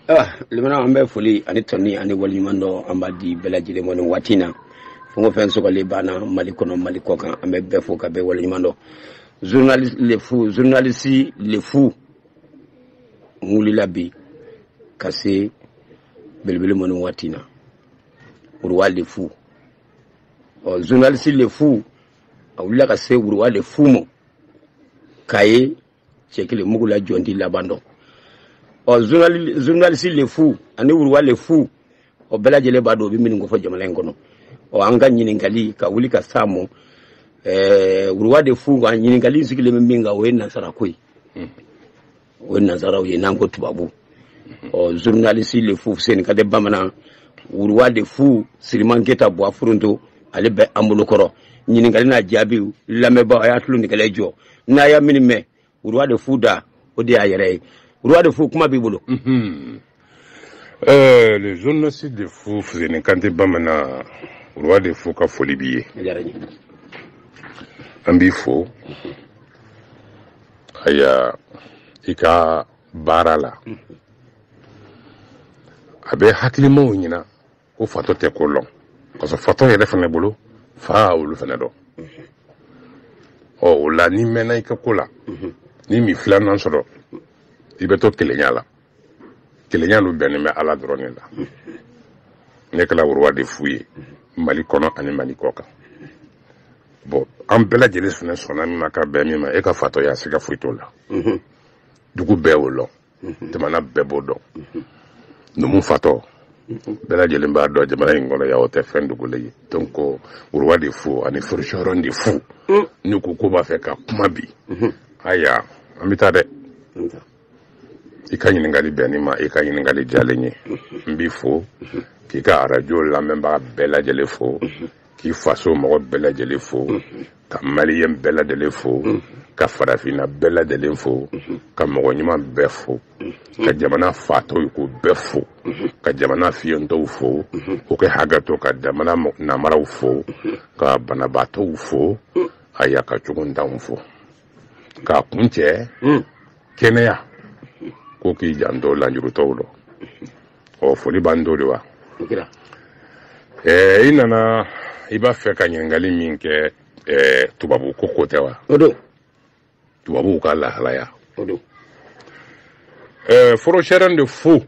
Ah, limana an bɛ foli ani tanuni ani waliɲumandɔn an b'a di bɛɛ lajɛlen ma nin waati na fɛn o fɛn sɔgɔlen b'an na mali kɔnɔ mali kɔkan an bɛ bɛɛ fo ka bɛɛ waliɲuman dɔn journaliste le fou journaliste le fou n wulila bi ka se belebele ma nin waati na roi le fou ɔ oh, journaliste le fou a wulila ka se roi le fou ma k'a ye cɛ kelen mugu la jɔn t'i laban dɔn ɔ journaliste le fou ani roi le fou ɔ bɛɛ lajɛlen b'a dɔn o bɛ minnu kofɔ jamana in kɔnɔ ɔ an ka ɲininkali ka wuli ka s'a ma ɛɛ roi de fou ka ɲininkali sigilen bɛ min kan o ye nansara ko ye o ye nansaraw ye n'an ko tubabu ɔ journaliste le fou seni kante bamanan roi de fou siriman keta buwa foronto ale bɛ an bolo kɔrɔ ɲininkali n'a jaabiw lamɛnbaaw a y'a tulo nɛgɛlɛ jɔ n'a y'a minnu mɛn roi de fou da o de y'a yɛrɛ ye roi de fou kuma b'i bolo mhm. eh, le journaliste de fou fuseni kante bamanan roi de fou ka foli b'i ye an b'i fo mhm. aya i ka baara la mhm. a bɛ hakilimaw ɲɛna ko fatɔ tɛ ko lɔn parce que fatɔ yɛrɛ fana bolo fa olu fana dɔn ɔ o la n'i mɛnna i ka ko la n'i m'i filanan sɔrɔ i bɛ to kelenya la kelenya dun bɛnnen bɛ ala dɔrɔn de la ne kɛla roi de fou ye mali kɔnɔ ani mali kɔkan bon an bɛɛ lajɛlen fana sɔnna min ma ka bɛn min ma e ka fatɔya siga foyi t'o la dugu bɛɛ o lɔn jamana bɛɛ b'o dɔn numu fatɔ bɛɛ lajɛlen b'a dɔn jamana in kɔnɔ yan o tɛ fɛn dogolen ye donc roi de fou ani forgeron de fou mm. n'u ko k'u b'a fɛ ka kuma bi mm-hmm. aya an bɛ taa dɛ i ka ɲininkali bɛnni ma i ka ɲininkali diyalen ye mm-hmm. n b'i fo mm-hmm. k'i ka arajo lamɛnbaga bɛɛ lajɛlen fo k'i faso mɔgɔ bɛɛ lajɛlen fo ka maliyɛn bɛɛ lajɛlen fo ka farafinna bɛɛ lajɛlen fo ka mɔgɔ ɲuman bɛɛ fo ka jamana fatɔ ye ko bɛɛ fo ka jamana fiyentɔw fo u ka hakɛto ka jamana namaraw fo ka banabaatɔw fo aya ka cogontanw fo k'a kuncɛ kɛnɛya ko k'i janto lanjurutɔw dɔ ɔ foli b'an to de wa ɛɛ i nana i b'a fɛ ka ɲininkali min kɛ ɛɛ tubabu ko ko tɛ wa o don tubabuw ka lahalaya o don ɛɛ forgeron de fou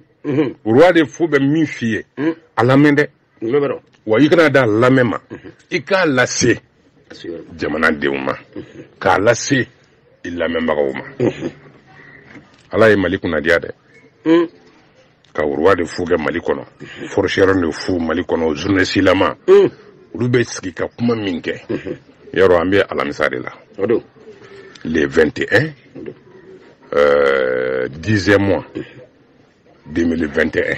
roi de fou bɛ min f'i ye a lamɛn dɛ wa i kana da lamɛn ma mhm. i k'a lase jamanadenw ma mhm. k'a lase i lamɛnbagaw ma mhm. ala ye mali kunnadiya dɛ mm. ka roi de fou kɛ mali kɔnɔ forgeron de fou mali kɔnɔ journaliste lama mm. olu bɛ sigi ka kuma min kɛ yɔrɔ an bɛ alamisa de la le 21 euh, dixième mois 2021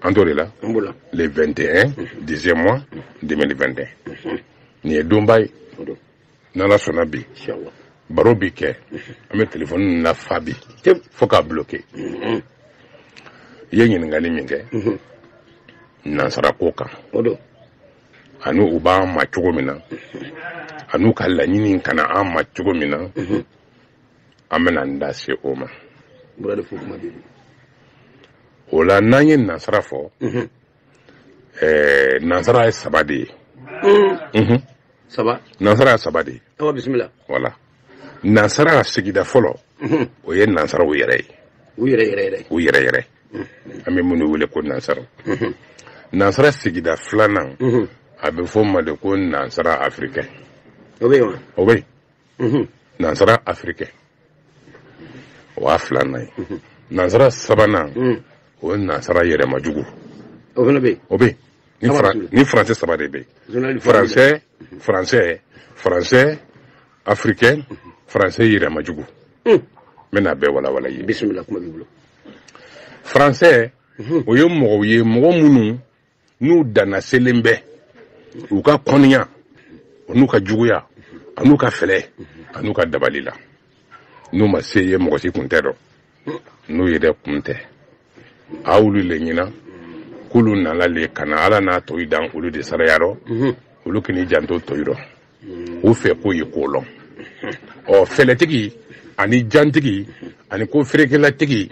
an t'o de la le 21 dixième mois 2021 nin ye donba ye n'ala sɔnna bi baro bi kɛ an bɛ telefɔni lafa bi fo k'a bloke i ye ɲininkali min kɛ nansarako kan ani u b'an ma cogo min na ani u ka laɲini ka na an ma cogo min na an bɛna n da se o ma o la n'an ye nansara fɔ mhm. eh, nansara ye saba de ye mm. mhm. nansara ye saba de ye voilà nansara sigida fɔlɔ mhm. o ye nansaraw yɛrɛ ye u yɛrɛ yɛrɛ an bɛ minnu wele ko nansara nansara sigida filanan a bɛ fɔ o ma de ko nansara africain o bɛ yen nansara africain o y'a filanan ye nansara sabanan o ye nansara yɛrɛmajugu o fana bɛ o bɛ ni français saba de bɛ yen français français français africain français yɛrɛmajugu n bɛn'a bɛɛ walawala i ye bisimila kuma b'i bolo français o ye mɔgɔw ye mɔgɔ minnu n'u danna selen bɛ u ka kɔniya n'u ka juguya an'u ka fɛlɛ an'u ka dabali la n'u ma se ye mɔgɔ si kun tɛ dɔn n'u yɛrɛ kun tɛ a olu le ɲina k'olu nana le ka na ala n'a tɔyi dan olu de saraya rɔ mhm. olu k'i janto tɔyi rɔ mhm. u fɛ k'u ye ko lɔn mhm. ɔ fɛlɛtigi ani jantigi ani ko fɛɛrɛkɛlatigi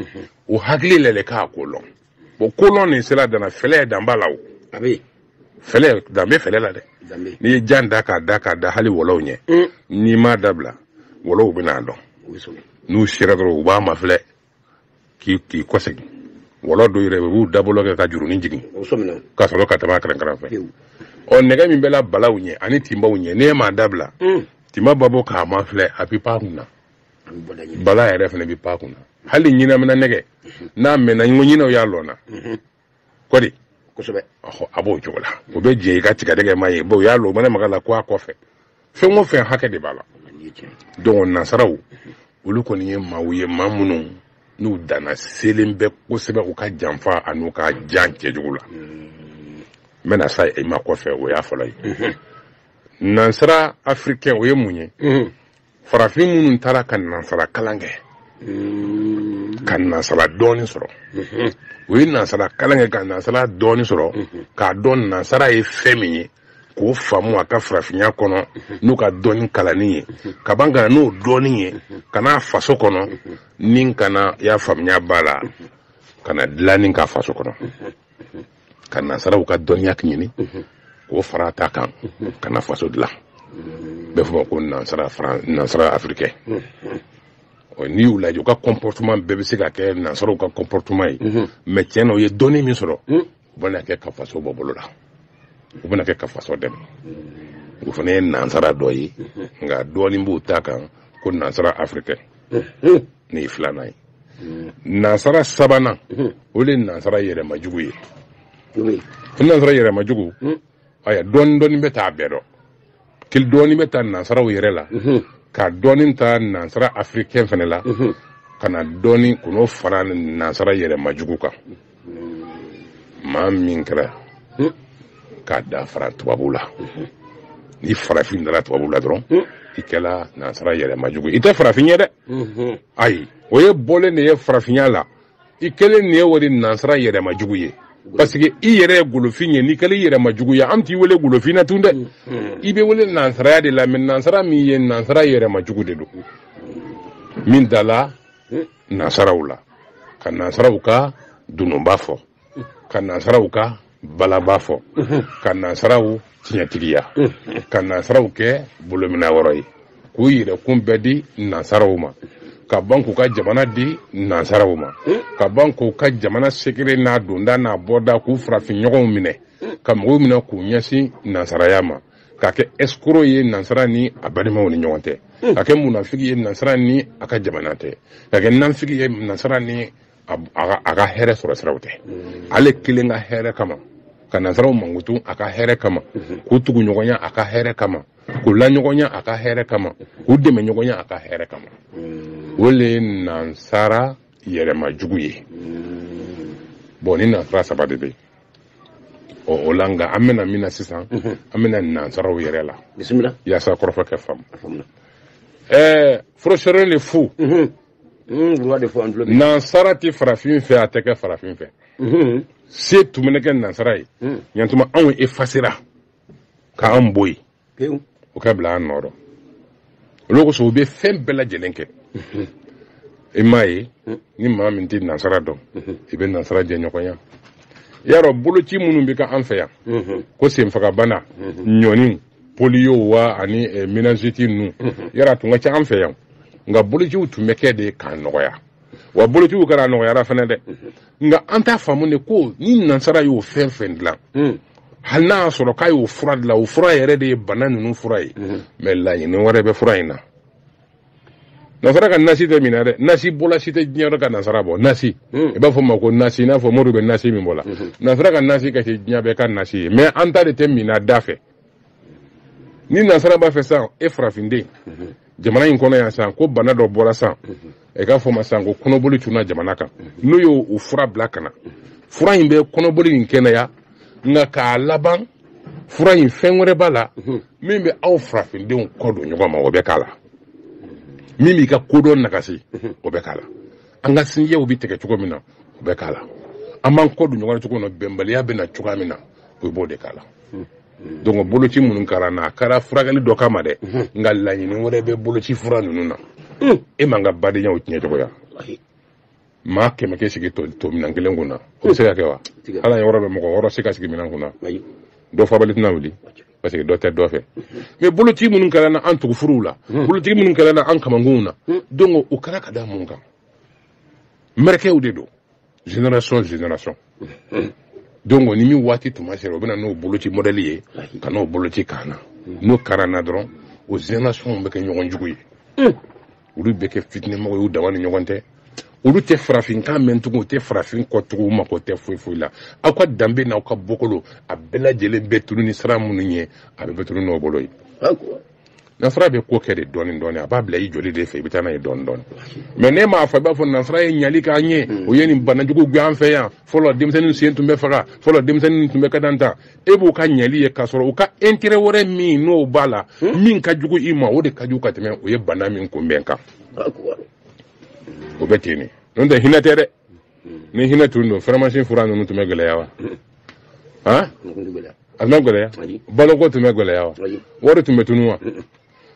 u hakili la le k'a ko lɔn bon kolɔn nin sera dan na fɛlɛ dan b'a la o a bɛ fɛlɛ dan bɛ fɛlɛ la dɛ dan bɛ n'i ye jan da k'a da k'a da hali wɔlɔw ɲɛ un n'i m'a dabila wɔlɔw bɛn'a dɔn o bɛ sɔrɔ n'u sera dɔrɔn u b'a mafilɛ k'i k'i kɔsegin wɔlɔ dɔw yɛrɛ u b'u dabolo kɛ ka jurunin jigin o sɔmina ka sɔrɔ ka tɛmɛ a kɛrɛ kɛrɛ fɛ pewu ɔ nɛgɛ min bɛ la balaw ɲɛ ani tinbaw ɲɛ n'e m'a dabila un tinba b'a bɔ k'a mafilɛ a bɛ pan a kun na bala yɛrɛ fana bɛ pan kunna hali ɲinamina nɛgɛ n'a mɛnna n ko ɲinɛw y'a lɔnna kɔdi kosɛbɛ a b'o cogo la o bɛ jɛ i ka tigadɛgɛ ma ye o y'a lɔ o mana maga la ko a kɔfɛ fɛn o fɛn hakɛ de b'a la donc nansaraw olu kɔni ye maaw ye maa minnu n'u danna selen bɛ kosɛbɛ u ka janfa an'u ka jan cɛjugu la n bɛna sayi ma kɔfɛ o y'a fɔlɔ ye nansara africain o ye mun ye farafin minnu taara ka nansara kalan kɛ mm-hmm. ka nansara dɔnni sɔrɔ mm-hmm. u ye nansara kalan kɛ ka nansara dɔnni sɔrɔ mm-hmm. k'a dɔn nansara ye fɛn min ye k'o faamu a ka farafinya kɔnɔ n'u ka dɔnni kalanni ye ka ban ka na n'o dɔnni ye ka n'a faso kɔnɔ ni ka na y'a faamuya b'a la ka na dilanni k'a faso kɔnɔ ka nansaraw ka dɔnniya ɲini k'o fara ta kan ka na faso dilan bɛ fɔ ma ko nansara africain n'i y'u lajɛ u ka comportement bɛɛ bɛ se ka kɛ nansaraw ka comportement ye mais tiɲɛ na u ye dɔnni min sɔrɔ u bɛna kɛ ka faso bɔ bolo la u bɛna kɛ ka faso dɛmɛ o fana ye nansara dɔ ye nka dɔɔnin b'u ta kan ko nansara africain nin ye filanan ye nansara sabanan o de ye nansara yɛrɛmajugu ye o nansara yɛrɛmajugu aya dɔɔni dɔɔni bɛ ta a bɛɛ dɔ kili dɔɔni bɛ ta nansaraw yɛrɛ la ka dɔɔni ta nansara africain fana la ka na dɔɔni k'o fara nansara yɛrɛmajugu kan maa min kɛra k'a da fara tubabu la ni farafin dara tubabu la dɔrɔn i kɛla nansara yɛrɛmajugu ye i tɛ farafin ye dɛ ayi o ye bɔlen de ye farafinya la i kɛlen de ye o de nansara yɛrɛmajugu ye parce que i yɛrɛ ye golofin ye n'i kɛlen i yɛrɛmajugu ye an t'i wele golofin na tun dɛ i bɛ wele nansaraya de la mais nansara min ye nansara yɛrɛmajugu de don min dala nansaraw la ka nansaraw ka dununba fɔ ka nansaraw ka balaba fɔ ka nansaraw tiɲɛtigiya ka nansaraw kɛ bolomina wɔrɔ ye k'u yɛrɛkun bɛɛ di nansaraw ma ka ban k'u ka jamana di nansaraw ma ka ban k'u ka jamana secret n'a donda n'a bɔda k'u farafinɲɔgɔnw minɛ ka mɔgɔw minɛ k'u ɲɛsin nansaraya ma ka kɛ escroc ye nansara ni a balimaw ni ɲɔgɔn tɛ hmm. ka kɛ munafiki ye nansara ni a ka jamana tɛ ka kɛ nafiki ye nansara ni a ka hɛrɛ sɔrɔ siraw tɛ hmm. ale kelen ka hɛrɛ kama ka nansaraw mankutu a ka hɛrɛ kama hmm. k'u tuguɲɔgɔnya a ka hɛrɛ kama k'u laɲɔgɔnya a ka hɛrɛ kama k'u dɛmɛ ɲɔgɔnya a ka hɛrɛ kama o le ye nansara yɛrɛmajugu ye bon ni nansara saba de bɛ yen ɔ o la nka an bɛ na min na sisan an bɛ na nansaraw yɛrɛ la bisimila yaasa kɔrɔfɔ kɛ faamu ɛɛ forosɛrɛn de fu nansara tɛ farafin fɛ a tɛ kɛ farafin fɛ se tun bɛ kɛ nansara ye yantuma anw efasera k'an bɔ yen pewu o ka bila an nɔ rɔ olu kosɔn u bɛ fɛn bɛɛ lajɛlen kɛ i m'a ye ni maa min tɛ nansara dɔn i bɛ nansara jɛɲɔgɔnya i y'a dɔn boloci minnu bɛ kɛ an fɛ yan ko senfagabana ɲɔni poliyo wa ani eh, méningite ninnu yala tun ka ca an fɛ yan nka bolociw tun bɛ kɛ de k'a nɔgɔya wa bolociw kɛra a nɔgɔyara fana dɛ nka an t'a faamu de ko ni nansara y'o fɛn fɛn dilan hmm. hali n'a y'a sɔrɔ k'a y'o fura dilan o fura yɛrɛ de ye bana ninnu fura ye hmm. mɛ laɲini wɛrɛ bɛ fura in na nansara ka nasi tɛ min na dɛ nasibɔla si tɛ diɲɛ yɔrɔ ka nansara bɔ nasi hmm. i b'a fɔ ma ko nasi i n'a fɔ mori bɛ nasi min bɔ la nansara ka nasi ka kɛ diɲɛ bɛɛ ka nasi ye mɛ an ta de tɛ min na da fɛ ni nasara b'a fɛ san e farafinden jamana in kɔnɔ yan san ko bana dɔ bɔra san ɛ k'a fɔ ma san ko kɔnɔboli tunna jamana kan n'o y'o fura bila ka na fura in bɛ kɔnɔboli in kɛnɛya nka k'a laban fura in fɛn wɛrɛ b'a la min bɛ aw farafindenw kɔ don ɲɔgɔn ma o bɛ k'a la min b'i ka kodɔn nagasi o bɛ k'a la an ka sinjiw bɛ tigɛ cogo min na o bɛ k'a la an b'an kɔ don ɲɔgɔn na cogo min na bɛnbaliya bɛ na cogoya min na o b'o de k'a la donc boloci minnu kɛra na a kɛra furakɛli dɔ kama dɛ nka laɲini wɛrɛ bɛ boloci fura ninnu na e man ka badenyaw tiɲɛ cogoya maa kɛmɛ kɛ sigi to to minɛn kelen kun na o bɛ se ka kɛ wa ala ye yɔrɔ bɛ mɔgɔ wɔɔrɔ se ka sigi minɛn kun na dɔ fabali tɛna wuli parce que dɔ tɛ dɔ fɛ mɛ boloci minnu kɛra na an tugufuruw la boloci minnu kɛra na an kamankunw na donc o kɛra ka da mun kan mɛrɛkɛw de don génération génération donc ni min waati tuma sera u bɛna n'o boloci mɔdɛli ye ka n'o boloci k'an na n'o kɛr'an na dɔrɔn o génération bɛ kɛ ɲɔgɔn jugu ye olu bɛ kɛ fitinɛmɔgɔ y'u dama ni ɲɔgɔn tɛ olu tɛ farafinkan mɛn tugun u tɛ farafin kɔ tugun u mako tɛ foyi foyi la aw ka danbe n'aw ka bɔkolo a bɛɛ lajɛlen bɛ tunun ni sira minnu ye a bɛɛ bɛ tunun n'o bolo ye nasara bɛ ko kɛ de dɔɔni dɔɔni a b'a bila i joli de fɛ i bɛ taa n'a ye dɔɔni dɔɔni mɛ ne m'a fɔ i b'a fɔ nasara ye ɲali k'an ye hmm. o ye nin bana jugu gɛn an fɛ yan fɔlɔ denmisɛnnin sen tun bɛ faga fɔlɔ denmisɛnnin tun bɛ ka dan tan e b'o ka ɲali ye k'a sɔrɔ u ka intérêt wɛrɛ min n'o b'a la hmm. min ka jugu i ma o de ka jugu ka tɛmɛ o ye bana min kunbɛn kan o bɛ ten de n'o tɛ hinɛ tɛ dɛ hmm. ni hinɛ tun don faramasiyɛn fura ninnu tun bɛ gɛlɛya wa han a bɛ gɛlɛya baloko tun bɛ gɛlɛya wa wari tun bɛ tunu wa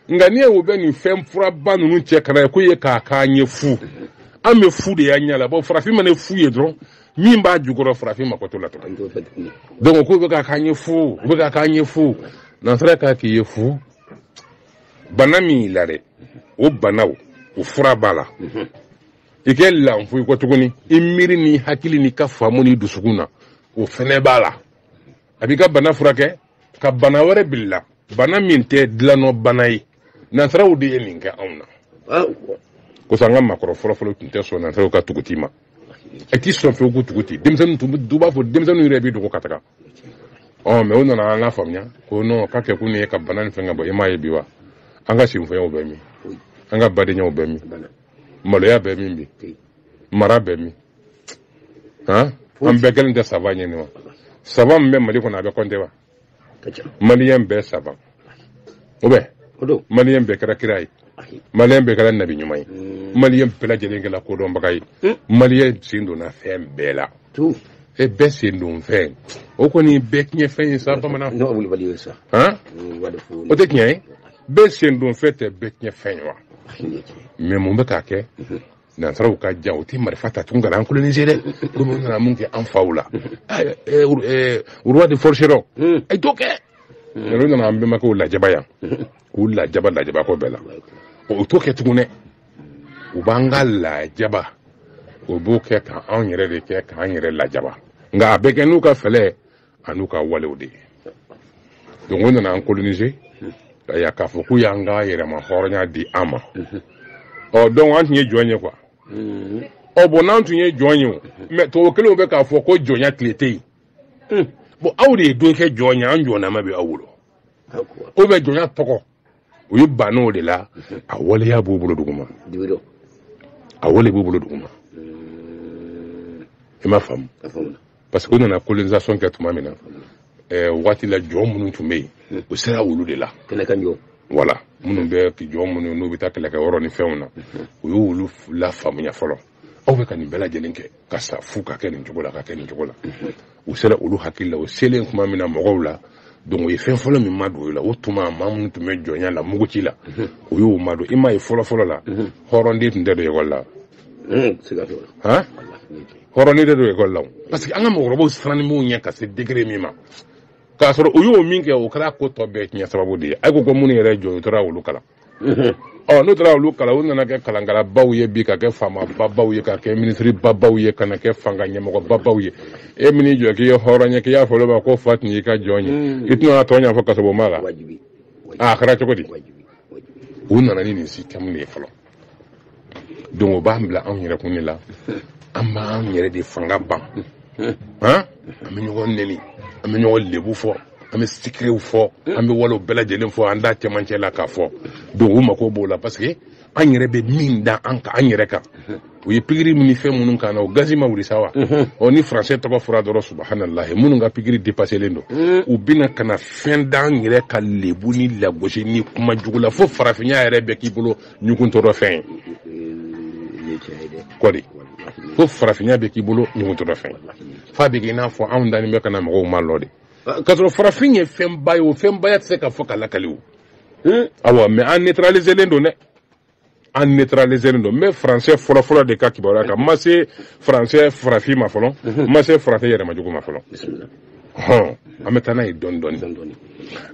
nka n'i ye o bɛ nin fɛn furaba ninnu cɛ kana ye ko ye k'a k'an ye fu an bɛ fu de y'an ɲɛ la bon farafin mana fu ye dɔrɔn min b'a jukɔrɔ farafin mako t'o la tuguni donc k'u bɛ k'a k'an ye fu u bɛ k'a k'an ye fu nansara k'a k'i ye fu bana min y'i la dɛ o banaw o fura b'a la i kɛ lanfoyi kɔ tuguni i miiri ni hakili n'i ka faamu ni dusukun na o fɛnɛ b'a la a b'i ka bana furakɛ ka bana wɛrɛ bil'i la bana min tɛ dilannɔ bana ye nansaraw de ye nin kɛ anw na kosɔn an ka maakɔrɔ fɔlɔfɔlɔ tun tɛ sɔn nansaraw ka tuguci ma a t'i sɔn fewu ko tuguci denmisɛnnin tun b'a fɔ denmisɛnninw yɛrɛ bɛ dogo ka taga ɔ mais u nana an k'a faamuya ko non k'a kɛ kun ye ka bana nin fɛn k'a bɔ i m'a ye bi wa an ka sinfɛnyaw bɛ min an ka badenyaw bɛ min maloya bɛ min bi mara bɛ min an bɛɛ kɛlen tɛ savant ye nin wa savant min bɛ mali kɔnɔ a bɛ compter wa maliyɛn bɛɛ savant o bɛ maliyɛn bɛɛ kɛra kira ye maliyɛn bɛɛ kɛra nabi ɲuman ye hmm. maliyɛn bɛɛ lajɛlen kɛra kodɔnbaga ye hmm. maliyɛn sen donna fɛn bɛɛ la e bɛɛ sen don fɛn o kɔni bɛɛ tiɲɛ fɛn ye sa bamanan o tɛ tiɲɛ ye bɛɛ sen don fɛn tɛ bɛɛ tiɲɛ fɛn ye wa mais mun bɛ k'a kɛ hmm. nansaraw ka jan u tɛ marifa ta tugun ka na an coloniser dɛ olu minnu nana mun kɛ an faw la roi de forgeron a t'o kɛ olu nana an bɛnbakɛw lajaba yan k'u lajaba lajabako bɛɛ la u t'o kɛ tugun dɛ u b'an ka lajaba o b'o kɛ k'an yɛrɛ de kɛ k'an yɛrɛ lajaba nka a bɛ kɛ n'u ka fɛlɛ an'u ka walew de ye donc u nana an coloniser yan k'a fɔ k'u y'an ka yɛrɛmahɔrɔnya di an ma ɔ donc an tun ye jɔn ye quoi ɔ bon n'an tun ye jɔn ye o mais tubabu kelenw bɛ k'a fɔ ko jɔnya tile tɛ yen bon aw de ye don kɛ jɔn ye an jɔnnama bɛ aw bolo o bɛ jɔnya tɔgɔ u y'u ban o de la a waleya b'u bolo duguma a wale b'u bolo duguma i m'a faamu parce que u nana colonisation kɛ tuma min na eh, waati la jɔn minnu tun bɛ yen u sera olu de la voilà minnu bɛ jɔn minnu n'u bɛ taa kɛlɛkɛ yɔrɔ ni fɛnw na u y'olu lafaamuya fɔlɔ aw bɛ ka nin bɛɛ lajɛlen kɛ ka sa fu ka kɛ nin cogo la ka kɛ nin cogo la u sera olu hakili la o selen tuma min na mɔgɔw la donc u ye fɛn fɔlɔ min madon u la o tuma maa minnu tun bɛ jɔnya la muguci la u y'o madon i m'a ye fɔlɔfɔlɔ la hɔrɔnden tun tɛ don ekɔli la han hɔrɔnden tɛ don ekɔli la parce que an ka mɔgɔkɔrɔbaw sirannen b'u ɲɛ ka se degré min ma k'a sɔrɔ u y'o min kɛ o kɛra ko tɔ bɛɛ tiɲɛ sababu de ye a ko ko minnu yɛrɛ jɔ u tora olu kalan ɔ n'u taara olu kalan u nana kɛ kalankalabaw ye bi ka kɛ faamababaw ye ka kɛ minisiribabaw ye ka na kɛ fanga ɲɛmɔgɔbabaw ye e min n'i jɔ k'i ye hɔrɔn ye k'i y'a fɔ olu ma k'o fa tun y'i ka jɔn ye mm. i tɛna tɔ ɲɛfɔ kasɔrɔ ma la a kɛra cogo di u nana ni nin sisitɛmu de ye fɔlɔ donc o b'an bila anw yɛrɛkun de la an b'an yɛrɛ de fanga ban an bɛ ɲɔgɔn neni an bɛ ɲɔgɔn lebu fɔ an bɛ sekerɛw fɔ an bɛ walew bɛɛ lajɛlen fɔ an da cɛmancɛ la k'a fɔ donc u mago b'o la parce que an yɛrɛ bɛ min da an kan an yɛrɛ kan u ye pikiri ni fɛn minnu k'an na o gazi ma wuli sa wa ɔ ni faransɛ tɔgɔ fɔra dɔrɔn subahanallahi minnu ka pikiri depaselen don u bɛna ka na fɛn d'an yɛrɛ ka lebu ni lagosi ni kuma jugu la fo farafinya yɛrɛ bɛ k'i bolo ɲuguntɔrɔ fɛn ye ko di fo farafinya bɛ k'i bolo ɲuguntɔrɔ fɛn f'a bɛ k'i n'a fɔ anw dalen bɛ ka na mɔgɔw malo de kasɔrɔ farafin ye fɛnba ye o fɛnbaya tɛ se ka fɔ ka lakali o awa mais an neutraliselen don dɛ an neutraliselen don n bɛ faransɛ fɔlɔfɔlɔ de ka kibaruya kan n ma se faransɛ farafin ma fɔlɔ n ma se farafin yɛrɛmajugu ma fɔlɔ hɔn an bɛ taa n'a ye dɔɔni dɔɔni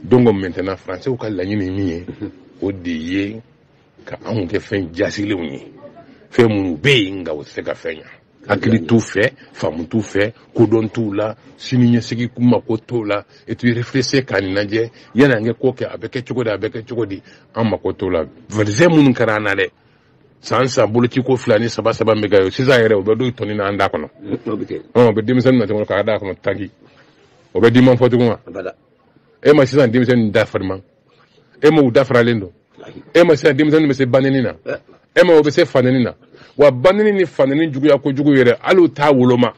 donc maintenant faransɛw ka laɲini ye min ye o de ye ka anw kɛ fɛn jaasilenw ye fɛn minnu bɛ yen nka u tɛ se ka fɛn ɲa hakili t'u fɛ faamu t'u fɛ kodɔn t'u la sini ɲɛsigi mako t'u la et puis réfléchir k'a ɲɛnajɛ yanni an ka ko kɛ a bɛ kɛ cogo di a bɛ kɛ cogo di an mako t'o la vaccin minnu kɛra an na dɛ san san boloci ko fila ni saba saba bɛ kɛ sisan yɛrɛ u bɛ dɔ tɔni na an da kɔnɔ o bɛ denmisɛnnin na cogo k'a da kɔnɔ tanki o bɛ diman fɔ tugun wa e ma sisan denmisɛnnin da farima e ma u da faralen don e ma sisan denmisɛnnin bɛ se baneni na e ma o bɛ se faneni na wa baneni ni faneni juguya kojugu yɛrɛ hali u t'a woloma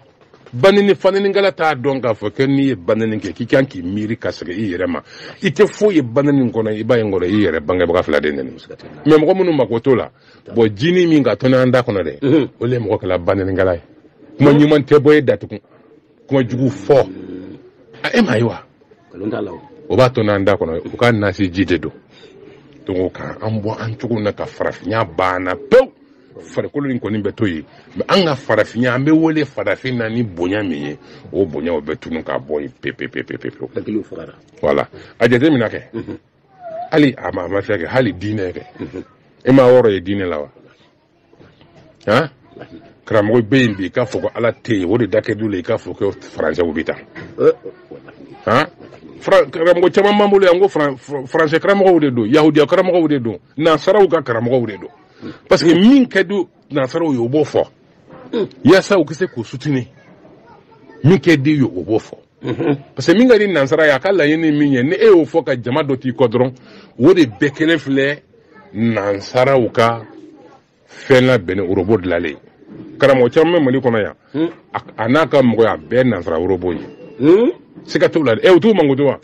baneni ni fanenikɛla t'a dɔn k'a fɔ kɛ n'i ye baneni kɛ k'i kan k'i miiri ka segin i yɛrɛ ma i tɛ foyi ye baneni kɔnɔ i b'a ye kɔrɔ i yɛrɛ bangebaga fila de neni mais mɔgɔ minnu mako t'o la bon jinin min ka tɔni an da kɔnɔ dɛ o de ye mɔgɔ kɛla banenikɛla ye kuma ɲuman tɛ bɔ e da tugun kuma jugu fɔ a e m'a ye wa o b'a tɔni an da kɔnɔ u ka nasi ji de don donc ka an bɔ an cogo na ka farafinya ban an na pewu farikolo in kɔni bɛ to yen mais an ka farafinya an bɛ wele farafin na ni bonya min ye o bonya o bɛ tunu ka bɔ yen pepepepepepewu voilà a jateminɛ kɛ hali a ma a mafilɛ kɛ hali diinɛ kɛ e ma wɔɔrɔ ye diinɛ la wa han karamɔgɔ bɛ yen bi i k'a fɔ ko ala tɛ yen o de da kɛ du la i k'a fɔ ko faransɛw b'i ta han karamɔgɔ caman b'an bolo yan ko faransɛ karamɔgɔw de don yahudiya karamɔgɔw de don nansaraw ka karamɔgɔw de don parce que min ka di nansaraw ye o b'o fɔ yaasa u ka se k'u sutini min ka d'u ye o b'o fɔ parce que min ka di nansara ye a ka laɲini min ye ni e y'o fɔ ka jama dɔ t'i kɔ dɔrɔn o de bɛɛ kelen filɛ nansaraw ka fɛn labɛnnen orobo dilalen karamɔgɔ caman bɛ mali kɔnɔ yan hmm. a n'a ka mɔgɔya bɛɛ nansara orobo ye hmm. siga t'u la dɛ ɛ u t'u mankutu wa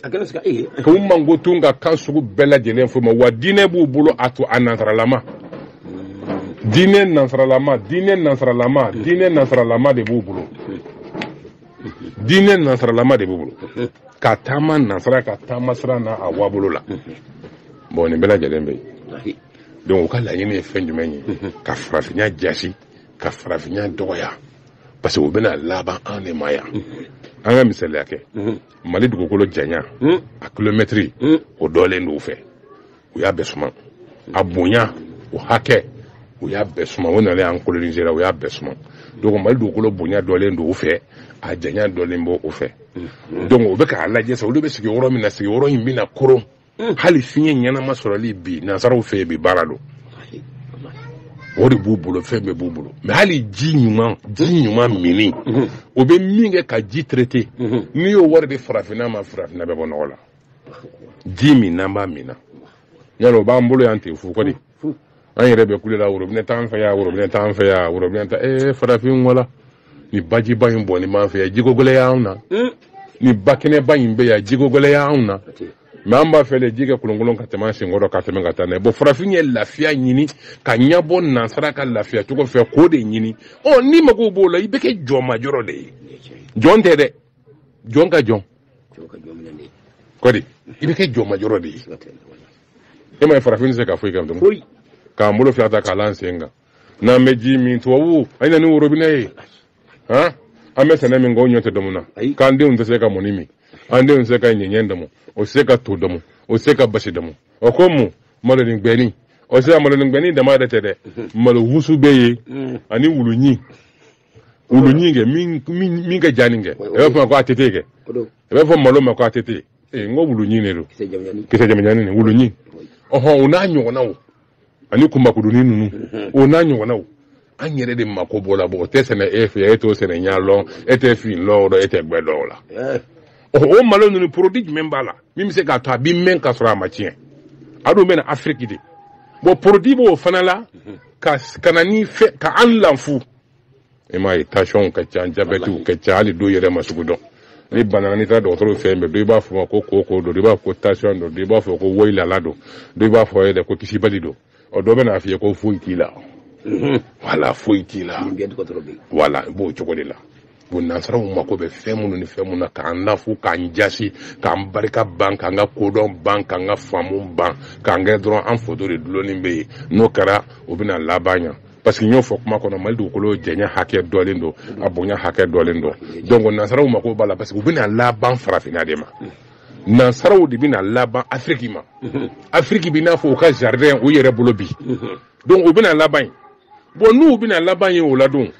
k'u mankutu ka kan sugu bɛɛ lajɛlen f'u ma wa diinɛ b'u bolo a to a nansaralama hmm. diinɛ nansaralama diinɛ nansaralama diinɛ nansaralama de b'u bolo diinɛ nansaralama de b'u bolo ka taama nansara ka taama sira n'a a waabolo la bɔn nin bɛɛ lajɛlen bɛ yen donc u ka laɲini ye fɛn jumɛn ye ka farafinya jasi ka farafinya dɔgɔya parce que u bɛna laban an de ma yan an ka misaliya kɛ mali dugukolo janya a kilomɛtiri o dɔlen don u fɛ u y'a bɛɛ suma a bonya o hakɛ u y'a bɛɛ suma o nalen an coloniser u y'a bɛɛ suma donc mali dugukolo bonya dɔlen don u fɛ a janya dɔlen b'u fɛ mm-hmm. donc o bɛ k'a lajɛ sa olu bɛ sigi yɔrɔ min na sigi yɔrɔ in bɛna koron mm. hali fiɲɛ ɲɛnama sɔrɔli bi nansaraw fɛ yen bi baara don wari b'u bolo fɛn bɛɛ b'u bolo mɛ hali ji ɲuman ji ɲuman minni o bɛ min kɛ ka ji traité n'i y'o wari di farafinna ma farafinna bɛ bɔ nɔgɔ la ji min n'an b'a min na yala o b'an bolo yan ten fu ko di an yɛrɛ bɛ kule la worobinɛ t'an fɛ yan worobinɛ t'an fɛ yan worobinɛ ta ee eh, farafin wala nin bajiba in bɔnnen b'an fɛ yan jiko gɛlɛya anw na hmm. nin bakɛnɛba in bɛ yan jiko gɛlɛya anw na mɛ an b'a fɛ de ji ka kolonkolon ka tɛmɛ an senkɔrɔ ka tɛmɛ ka taa n'a ye bɔn farafin ye lafiya ɲini k'a ɲɛbɔ nansara ka lafiya cogo fɛ k'o de ɲini ɔ n'i mago b'o la i bɛ kɛ jɔnmajɔrɔ de ye jɔn tɛ dɛ jɔn ka jɔn ko di i bɛ kɛ jɔnmajɔrɔ de ye e m'a ye farafin tɛ se ka foyi kɛ foyi k'an bolo fila ta k'a la an sen kan n'an bɛ ji min tubabu a na ni worobinɛ ye han an bɛ sɛnɛ min kɛ o ɲɔ tɛ dɔmu na k'an denw tɛ se ka mɔni min an denw tɛ se ka ɲɛɲɛ dɔmu o tɛ se ka to dɔmu o tɛ se ka basi dɔmu o ko mun malonin gbɛni o tɛ se ka malonin gbɛni dama yɛrɛ tɛ dɛ malo wusu bɛ yen ani wulu ɲin wulu ɲin kɛ min ka jan nin kɛ i b'a fɔ ko a tɛ kɛ i b'a fɔ malo ma ko a tɛ ten ee n ko wulu ɲin de don kisɛ jamanjan nin wulu ɲin ɔhɔn o n'a ɲɔgɔnnaw ani kunbakurunin ninnu mhm. o n'a ɲɔgɔnnaw an yɛrɛ de mako b'o la bɔn o tɛ sɛnɛ e fɛ e t'o sɛnɛ ɲa lɔn e tɛ fin lɔn dɔn e tɛ gbɛ dɔn o la eh. o malo ninnu porodi jumɛn b'a la min bɛ se k'a to a bɛ mɛn ka sɔrɔ a ma tiɲɛ a dun bɛ na afiriki de bɔn porodi b'o fana la mhm. ka kana ni fɛ ka an lafu i m'a ye tansiyɔnw ka ca jabɛtiw ka ca hali dɔw yɛrɛ ma sugu dɔn ni bana na n'i taara dɔgɔtɔrɔw fɛ yen bɛɛ dɔ i b'a fɔ ma ko kooko don dɔ i b'a fɔ ko tansiyɔn don dɔ i b'a fɔ ko woyilala don dɔ i b'a fɔ yɛrɛ ko kisibali don ɔ dɔ bɛ n'a f'i ye ko foyi t'i la wala foyi t'i la wala i b'o cogo de la bon nansaraw mako bɛ fɛn minnu ni fɛn minnu na k'an lafu k'an jasi k'an barika ban k'an ka kodɔn ban k'an ka faamu ban k'an kɛ dɔrɔn an foto de dulonnen bɛ yen n'o kɛra o bɛna laban yan parce que n y'o fɔ kuma kɔnɔ mali dugukolo janya hakɛ dɔlen don a bonya hakɛ dɔlen don donc nansaraw mako b'a la parce que u bɛna laban farafinna de ma nansaraw de bɛna laban afiriki ma afiriki bɛ n'a fɔ u ka jardin u yɛrɛ bolo bi donc u bɛna laban yen bon n'u bɛna laban yen o la dun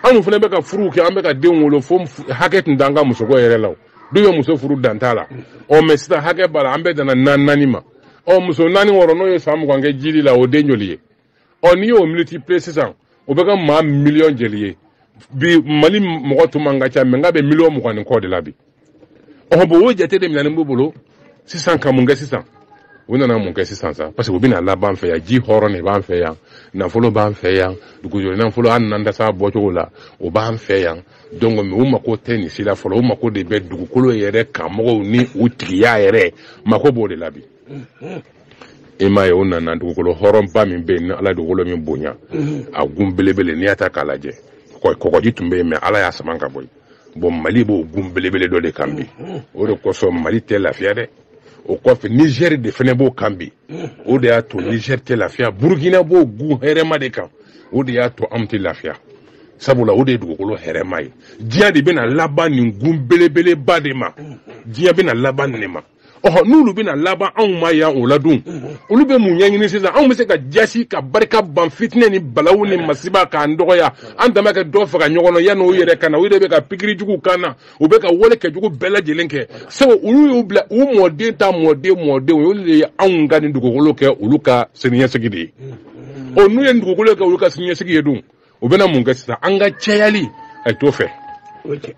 anw fana bɛ ka furuw kɛ an bɛ ka denw wolo fo hakɛ tun t'an ka musoko yɛrɛ la o tun bɛ muso furu dan t'a la ɔ mais sisan hakɛ b'a la an bɛɛ danna naani naani ma ɔ muso naani wɔɔrɔ n'o ye san mugan kɛ jigili la o den joli ye ɔ n'i y'o multiplier sisan o bɛ kɛ maa miliyɔn joli ye bi mali mɔgɔ tun man ka ca mais nka bɛ miliyɔn mugan ni kɔ de la bi ɔhɔn bon o jate de minɛnen b'u bolo sisan ka mun kɛ sisan u nana mun kɛ sisan sa parce que u bɛna laban an fɛ yan ji hɔrɔn de b'an fɛ yan nafolo b'an fɛ yan dugujukɔrɔ nafolo an nan dasa bɔcogo la o b'an fɛ yan donc mais u mako tɛ nin si la fɔlɔ u mako de bɛ dugukolo yɛrɛ kanmɔgɔw ni u tigiya yɛrɛ mako b'o de la bi i m'a ye o nana dugukolo hɔrɔnba min bɛ yen ni ala dugukolo min bonya a gun belebele n'i y'a ta k'a lajɛ kɔgɔji tun bɛ yen mais ala y'a sama ka bɔ yen bon mali b'o gun belebele dɔ de kan bi o de kosɔn mali tɛ lafiya dɛ o kɔfɛ nizɛri de fɛnɛ b'o kan bi o de y'a to nizɛri tɛ lafiya burukina b'o gun hɛrɛma de kan o de y'a to anw tɛ lafiya sabula o de ye dugukolo hɛrɛma ye diɲɛ de bɛna laban nin gun belebeleba de ma diɲɛ bɛna laban nin de ma ɔhɔ n'olu bɛna laban anw ma yan o la dun olu bɛ mun ɲɛɲini sisan anw bɛ se ka jasi ka barika ban fitinɛ ni balawu ni masiba k'an dɔgɔya an dama ka dɔ faga ɲɔgɔn na yanni o yɛrɛ ka na o yɛrɛ bɛ ka pikiri jugu k'an na u bɛ ka wale kɛjugu bɛɛ lajɛlen kɛ sabu olu y'u bila u mɔden ta mɔden mɔdenw ye olu de ye anw ka nin dugukolo kɛ olu ka siniɲɛsigi de ye ɔ n'u ye nin dugukolo kɛ olu ka siniɲɛsigi ye dun u bɛna mun kɛ sisan an ka cayali a t'o fɛ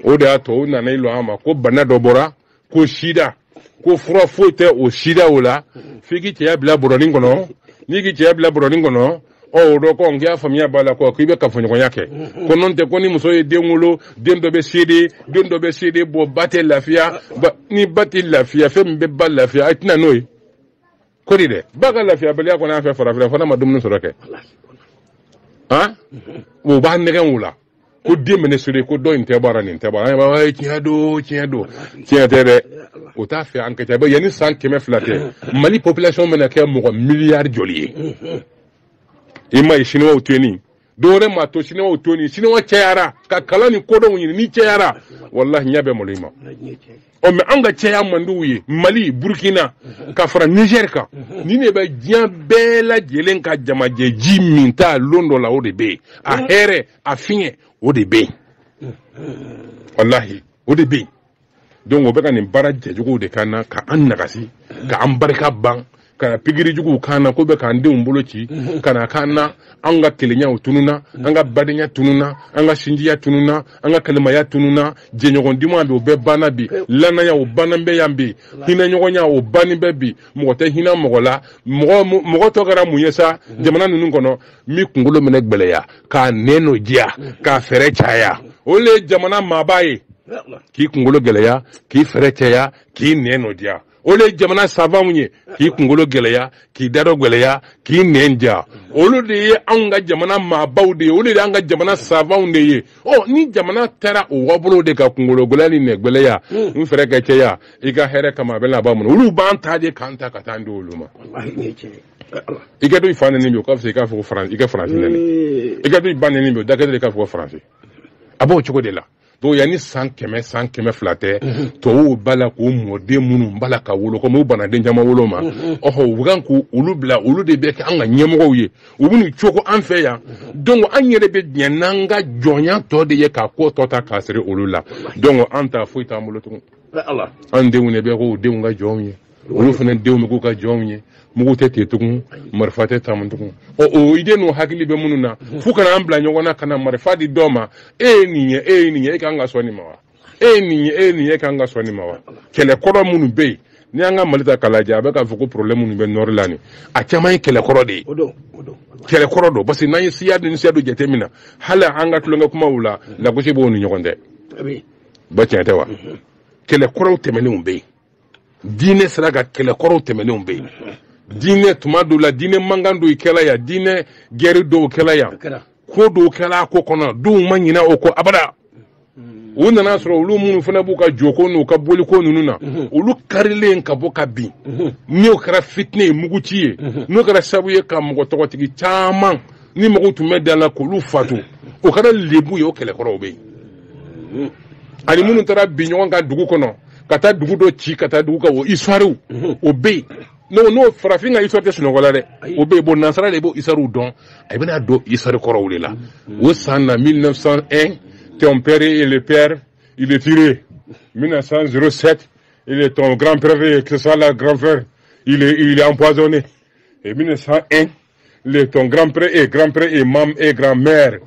o de y'a to u nana i lɔ an ma ko bana dɔ bɔra ko sida ko fura foyi tɛ o sida o la f'i k'i cɛya bila bɔrɔnin kɔnɔ n'i k'i cɛya bila bɔrɔnin kɔnɔ ɔ o dɔ kɔn k'i y'a faamuya b'a la ko k'i bɛ kafoɲɔgɔnya kɛ ko n'o tɛ ko ni muso ye den wolo den dɔ bɛ sere de den dɔ bɛ sere de bɔ ba tɛ lafiya ni ba tɛ lafiya fɛn min bɛ ba lafiya a tɛna n'o ye kori denba ka lafiyabaliya kɔni an fɛ farafin fana ma dumuni sɔrɔ kɛ han o b'a nɛgɛn o la ko den bɛ ne sori ko dɔ in tɛ baara nin tɛ baara an b'a ye tiɲɛ don tiɲɛ don tiɲɛ tɛ dɛ o t'a fɛ an ka ca bɛ yanni san kɛmɛ fila tɛ mali population bɛna kɛ mɔgɔ miliyari joli ye i ma ye siniwaw to yen dɔwɛrɛ ma to siniwaw to ni siniwa cayara ka kalan ni kodɔnw ɲini n'i cayara walahi ɲɛ bɛ malo i ma ɔ mais an ka caya man di u ye mali burkina ka fara niger kan nin de bɛ diɲɛ bɛɛ lajɛlen ka jamajɛ ji minta lon dɔ la o de bɛ yen a hɛrɛ a fiɲɛ o de bɛ yen walahi o de bɛ yen donc o bɛ ka nin baara cɛjuguw de k'an na ka an nagasi ka an barika ban ka na pikiri juguw k'an na k'u bɛ k'an denw boloci ka na k'an na an ka kelenya tununna an ka badenya tununna an ka sinjiya tununna an ka kalimaya tununna jɛɲɔgɔn duman bɛ o bɛɛ banna bi lannaya o banna bɛ yan bi hinɛɲɔgɔnya o banni bɛ bi mɔgɔ tɛ hinɛ mɔgɔ la mɔgɔ tɔ kɛra mun ye sa jamana ninnu kɔnɔ min kunkolo mana gbɛlɛya k'a nɛnnɔ diya k'a fɛɛrɛ caya o le ye jamana maaba ye k'i kunkolo gɛlɛya k'i fɛɛrɛ caya k'i nɛnnɔ diya o le ye jamana savanw ye k'i kunkolo gɛlɛya k'i dadɔ gɛlɛya k'i nɛn diya olu de ye anw ka jamana maabaw de ye olu de y'an ka jamana savanw de ye ɔ ni jamana taara o wabolow de ka kunkolo gɛlɛya ni nɛn gɛlɛya ni fɛɛrɛ kɛ caya i ka hɛrɛ kama a bɛ laban mun na olu b'an ta de k'an ta ka taa an di olu ma i ka to i fa nɛni bi o ka fisa i k'a fɔ ko faransi i ka faransi nɛni i ka to i ba nɛni bi o da ka di i k'a fɔ ko faransi a b'o cogo de la donc yanni san kɛmɛ san kɛmɛ fila tɛ tubabuw b'a la k'u mɔden minnu b'a la ka wolo komi u bɛna den caman wolo ma ɔhɔ u kan k'u olu bila olu de bɛ kɛ an ka ɲɛmɔgɔw ye u bɛ n'u cogo an fɛ yan donc an yɛrɛ bɛ diɲɛ n'an ka jɔnya tɔ de ye k'a ko tɔ ta k'a siri olu la donc an ta foyi t'an bolo tugun an denw de bɛ k'o denw ka jɔnw ye olu fana denw bɛ k'u ka jɔnw ye mugu tɛ ten tugun marifa tɛ tamu tugun ɔ o idée n'o hakili bɛ minnu na fo ka na an bila ɲɔgɔn na ka na marifa di dɔ ma e ye nin ye e ye nin ye e kan ka sɔn nin ma wa e ye nin ye e ye nin ye e kan ka sɔn nin ma wa kɛlɛ kɔrɔ minnu bɛ yen ni an ka mali ta k'a lajɛ a bɛ k'a fɔ ko problème minnu bɛ nord la nin a caman ye kɛlɛ kɔrɔ de ye kɛlɛ kɔrɔ don parce que n'an ye siya ni siya dɔ jateminɛ hali an ka tulonkɛ kumaw la lagosi b'o ni ɲɔgɔn tɛ ba tiɲɛ tɛ wa kɛlɛ kɔrɔw tɛmɛnenw bɛ yen diinɛ sira kan kɛlɛ kɔrɔw tɛmɛnenw bɛ yen diinɛ tuma dɔw la diinɛ mankan dɔw kɛla yan diinɛ gɛri dɔw kɛla yan ko dɔw kɛla a ko kɔnɔ denw ma ɲinɛ o kɔ abada u nana sɔrɔ olu minnu fana b'u ka joko n'u ka boliko ninnu na mhm. olu karilen ka bɔ ka bin mhm. n'o kɛra fitinɛ ye muguci ye mhm. n'o kɛra sabu ye ka mɔgɔ tɔgɔtigi caman ni mɔgɔw tun bɛ da la k'olu fatu o kɛra lebu ye o kɛlɛkɔrɔw bɛ yen ani minnu taara bin ɲɔgɔn kan dugu kɔnɔ ka taa dugu dɔ ci ka taa dugu ka o histoire mhm. o bɛ yen n'o n'o farafin ka histoire tɛ sunɔgɔ la dɛ o bɛ yen bon nansara de b'o histoire dɔn a bɛna don histoire kɔrɔw de la mhm. o san na 1901 ton père et le père il est tiré 1907 il est ton grand père et que ça la grand frère il est il est empoisonné et 1901 il est ton grand père et grand père et maman et grand mère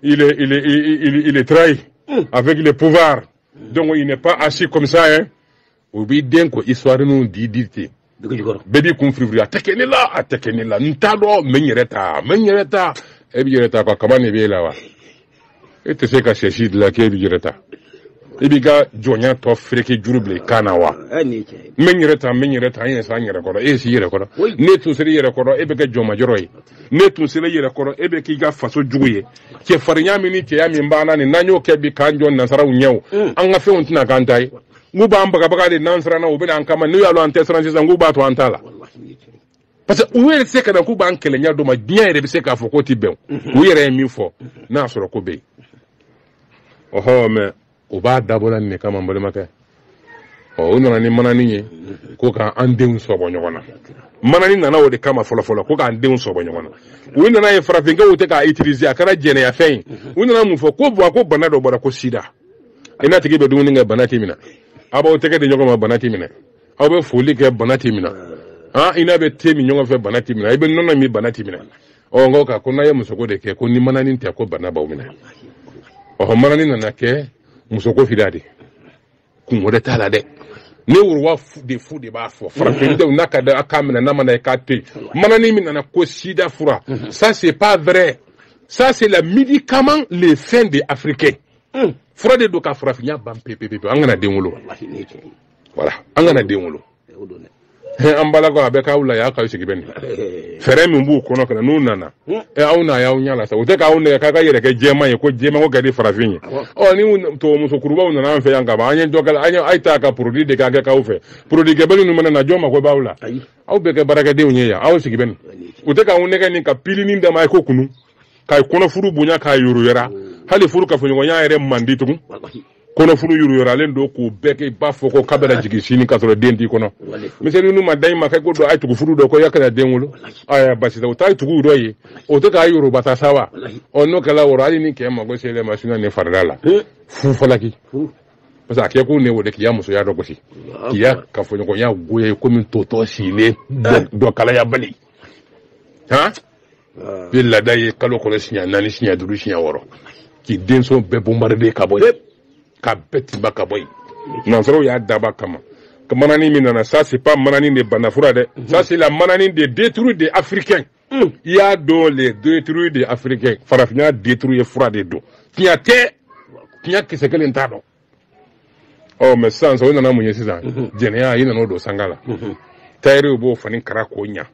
il est il est il, il, il est trahi mm. avec le pouvoir donc il n'est pas assis comme ça hein o b'i den ko histoire ninnu di di ten bɛɛ b'i kun firifiri a tɛ kɛ ne la a tɛ kɛ ne la n t'a dɔn n bɛ n yɛrɛ ta n bɛ n yɛrɛ ta e b'i yɛrɛ ta quoi kaman de b'e la wa e tɛ se ka sɛsi dilan k'e b'i yɛrɛ ta i b'i ka jɔnya tɔ fereke juru bila i kan na wa n bɛ n yɛrɛ ta n bɛ n yɛrɛ ta n yɛrɛ sa n yɛrɛ kɔrɔ e ye s'i yɛrɛ kɔrɔ n'e tun sera i yɛrɛ kɔrɔ e bɛ kɛ jɔnmajɔrɔ ye n'e tun sera i yɛrɛ kɔrɔ e bɛ k'i ka faso jugu ye cɛfarinya min ni cɛya min b'an na nin n'an y'o kɛ bi k'an jɔ nansaraw ɲɛ mm. an ka fɛnw tɛna k'an ta ye nk'u b'an bagabaga de n'an siranna u bɛ na an kama n'u y'a lɔn an tɛ siran sisan k'u b'an to an ta la parce que u yɛrɛ tɛ se ka na k'u b'an kɛlɛ ɲɛ dɔ ma diɲɛ yɛrɛ bɛ se k'a fɔ k'o tɛ bɛn mm-hmm. u yɛrɛ ye min fɔ mm-hmm. n'a sɔrɔ ko bɛ yen ɔhɔ mɛ o b'a dabɔla nin de kama n balimakɛ ɔ u nana ni manani ye ko ka an denw sɔbɔ ɲɔgɔn na manani nana o de kama fɔlɔfɔlɔ ko k'an denw sɔbɔ ɲɔgɔn na u nan'a ye farafinkɛw tɛ k'a utiliser a kɛra jɛnɛyafɛn ye u nana mun fɔ ko bon ko bana dɔ bɔra ko sida i n'a tigi bɛ dumuni kɛ bana t'i minɛ aw b'aw tɛgɛ di ɲɔgɔn ma bana t'i minɛ aw bɛ foli kɛ bana t'i minɛ i n'a bɛ te min ɲɔgɔn fɛ bana t'i minɛ i bɛ nɔnɔ min bana t'i minɛ ɔ nka ko n'a ye musoko de kɛ ko ni mananin tɛ ko bana b'aw minɛ ɔhɔ mananin nana kɛ musoko sida de kunko de t'a la dɛ ne roi des fous de b'a fɔ farafindenw n'a ka d'a ye k'a minɛ n'a man d'a ye k'a to yen mananin min nana ko sida fura ça c'est pas vrai ça c'est la médicament les fins des africains fura de don ka farafinya ban pepepepe an kana den wolo voilà an kana den wolo an balakaw a bɛ k'aw la y'a k'aw sigi bɛ nin fɛɛrɛ min b'u kɔnɔ fana n'u nana ɛ aw na y'aw ɲɛ la sa u tɛ k'aw nɛgɛn k'a k'a yɛrɛ kɛ jɛman ye ko jɛman ko ka di farafin ye ɔ ni tubabumusokɔrɔbaw nana an fɛ yan kaban an ye dɔ kɛla an ye a ye taa ka porodi de k'a kɛ k'aw fɛ porodi kɛbali ninnu mana na jɔn mako b'aw la aw bɛ kɛ baarakɛdenw ye yan aw sigi bɛ nin u tɛ k'aw nɛgɛn nin ka pilinin dama ye ko kunu ka kɔnɔfuru bonya k'a yoroyara hali furu kafoɲɔgɔnya yɛrɛ man di tugun kɔnɔfuru yoroyaralen don k'o bɛ kɛ i b'a fɔ ko k'a bɛna jigin sini k'a sɔrɔ den t'i kɔnɔ miseli n'u ma da i ma kɛ ko dɔ a ye tugu furu dɔ ko y'a kana den wolo aya basi tɛ o t'a ye tugu dɔ ye o tɛ k'a yoroba ta sa wa ɔ n'o kɛra wɔrɔ hali ni kɛ mago selen ma sinɔ ne farida la fu falaki parce que a kɛ ko ne o de k'i ya musoya dɔ gosi k'i ya kafoɲɔgɔnya goya ye komi totɔ sigilen dɔkalayabali han bi laada ye kalo kɔnɔ siɲɛ naani siɲɛ duuru siɲɛ wɔɔrɔ k'i denso bɛɛ bombarde ka bɔ yen ka bɛɛ tinba ka bɔ yen nansaraw y'a daba kama manani min nana ça c'est pas manani de banafura dɛ mhm. ça c'est la manani de détruire des africains mm. i y'a dɔn le détruire des africains farafinna détruire fura de don tiɲɛ tɛ tiɲɛ kisɛ kelen t'a dɔ ɔ mɛ sisan sɔrɔ nana mun ye sisan mhm. jɛnɛya i nan'o don sanga la mhm. tayiri b'o fani kara k'o ɲa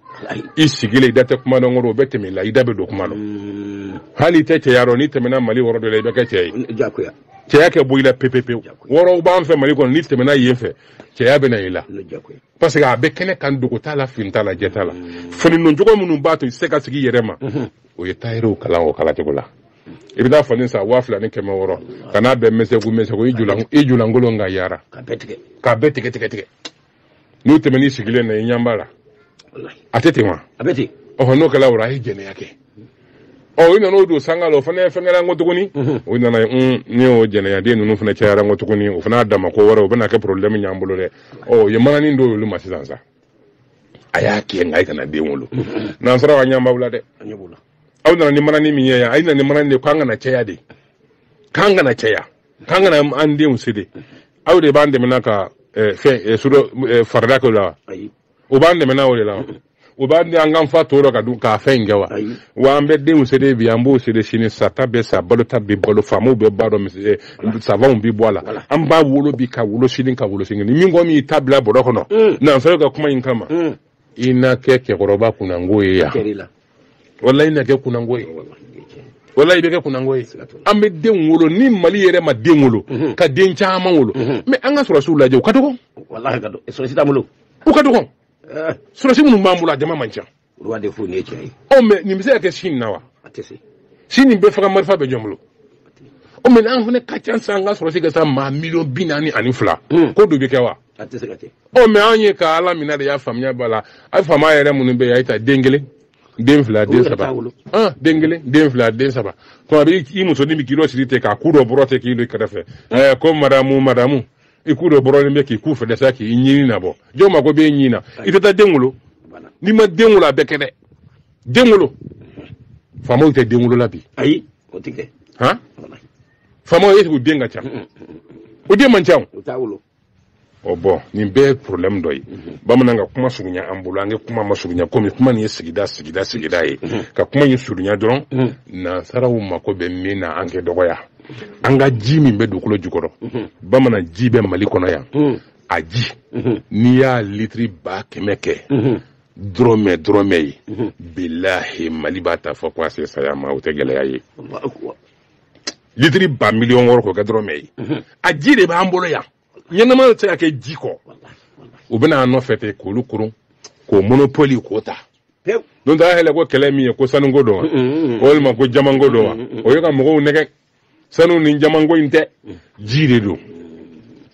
i sigilen i da tɛ kuma dɔ kɔrɔ o bɛ tɛmɛ i la i da bɛ don kuma dɔ mm. hali i tɛ cɛya dɔn n'i tɛmɛna mali wɔrɔ dɔ la i bɛ kɛ cɛ ye cɛya kɛ bɔ i la pepepewu wɔrɔw b'an fɛ mali kɔnɔ n'i tɛmɛna yen fɛ cɛya bɛ na i la parce que a bɛ kɛnɛ kan dogo t'a la fini t'a la jɛ t'a la mm. fani doncogo minnu b'a to i tɛ se ka sigi i yɛrɛ ma mm-hmm. o ye tayiriw kala o kalacogo la i bɛ taa fani san waa fila ni kɛmɛ wɔɔrɔ ka n'a bɛɛ mɛsɛku mɛsɛku i julankolon ka yara k'a bɛɛ tigɛ tigɛ tigɛ n'u tɛmɛn'i sigilen na i ɲɛ b'a la a tɛ ten wa ɔhɔ n'o kɛla o a ye jɛnɛya kɛ ɔ i nana o don sanga la o fana fɛn kɛra n ko tuguni o nana n ne y'o jɛnɛyaden ninnu fana cayara n ko tuguni o fana y'a dama ko wɛrɛ o bɛna kɛ porobilɛmu y'an bolo dɛ ɔ o ye mananin d'olu ma sisan sa a y'a kɛ nka i kana den wolo nansaraw an ɲɛ b'aw la dɛ aw nana ni mananin min ye yan a ye na ni mananin de k'an kana caya de k'an kana caya k'an kana an denw sede aw de b'an dɛmɛna ka eh, fɛn eh, sudɔ eh, farida kɛ o la wa ayi o b'an dɛmɛna o de la wa o b'an di an k'an fa to dɔ ka dun k'a fɛn in kɛ wa Ayi. wa an bɛ denw sede bi an b'o sede sini sata bɛ sa balota bɛ balo faamaw bɛ bɔ a dɔ misi- eh, savanw bɛ bɔ a la Voilà. an b'a wolo bi ka wolo sini ka wolo sini ni min ko min y'i ta bila bɔrɔ kɔnɔ Mm. nanfɛn ka kuma in kama Mm. i na kɛ cɛkɔrɔba kunango ye yan walayi i na kɛ kunango ye walayi i bɛ kɛ kunango ye an bɛ den wolo ni mali yɛrɛ ma den wolo mhm. ka den caman wolo mhm. mɛ an ka sɔrɔsiw lajɛ u ka dɔgɔn u ka dɔgɔn eh. sɔrɔsi minnu b'an bolo a jama man ca mɛ nin bɛ se ka kɛ sini na wa sini bɛɛ faga marifa bɛ jɔn bolo o mɛ an fana ka ca sa an ka sɔrɔsi ka se maa miliyɔn bi naani ani fila hmm. ko dɔ bɛ kɛ wa a tɛ se ka kɛ ɔ mɛ anw ye ka ala minɛ de y'a faamuya b'a la a faama yɛrɛ minnu bɛ yen a ye ta den kelen den fila den saba den kelen den fila den saba tuma bɛɛ i musonin bɛ k'i dɔ siri ten k'a ku dɔ bɔrɔ ten k'i don kɛrɛfɛ ɛɛ ko madamu madamu i ku dɔ bɔrɔlen bɛ k'i ku fɛ dɛsɛ k'i ɲin nabɔ jɔn mako b'e ɲin na i tɛ taa den wolo n'i ma den wolo a bɛ kɛ di den wolo faamaw tɛ den wolo la bi ayi o tɛ kɛ han faamaw ye sigi u den ka ca o den man ca o o bɔn nin bɛɛ ye problème dɔ ye mhm. bamanan ka kuma surunya an bolo an ka kuma masurunya komi kuma nin ye sigida sigida sigida ye mhm. ka kuma nin surunya dɔrɔn mhm. nansaraw mako bɛ min na an k'a dɔgɔya an ka ji min bɛ dugukolo jukɔrɔ bamanan ji bɛ mali kɔnɔ yan a ji n'i y'a litiri ba kɛmɛ kɛ dɔrɔmɛ dɔrɔmɛ ye bilahi mali b'a ta fɔ ko a se saya ma o tɛ gɛlɛya ye litiri ba miliyɔn wɔɔrɔ k'o kɛ dɔrɔmɛ ye a ji de b'an bolo yan ɲɛnama tɛ se ka kɛ ji kɔ u bɛ na an nɔfɛ ten k'olu koron k'o monopoli k'o ta don ta yɛlɛ ko kɛlɛ min ye ko sanuko don wa walima ko jamanko don wa o ye ka mɔgɔw nɛgɛn sanu ni jamanko in tɛ ji de don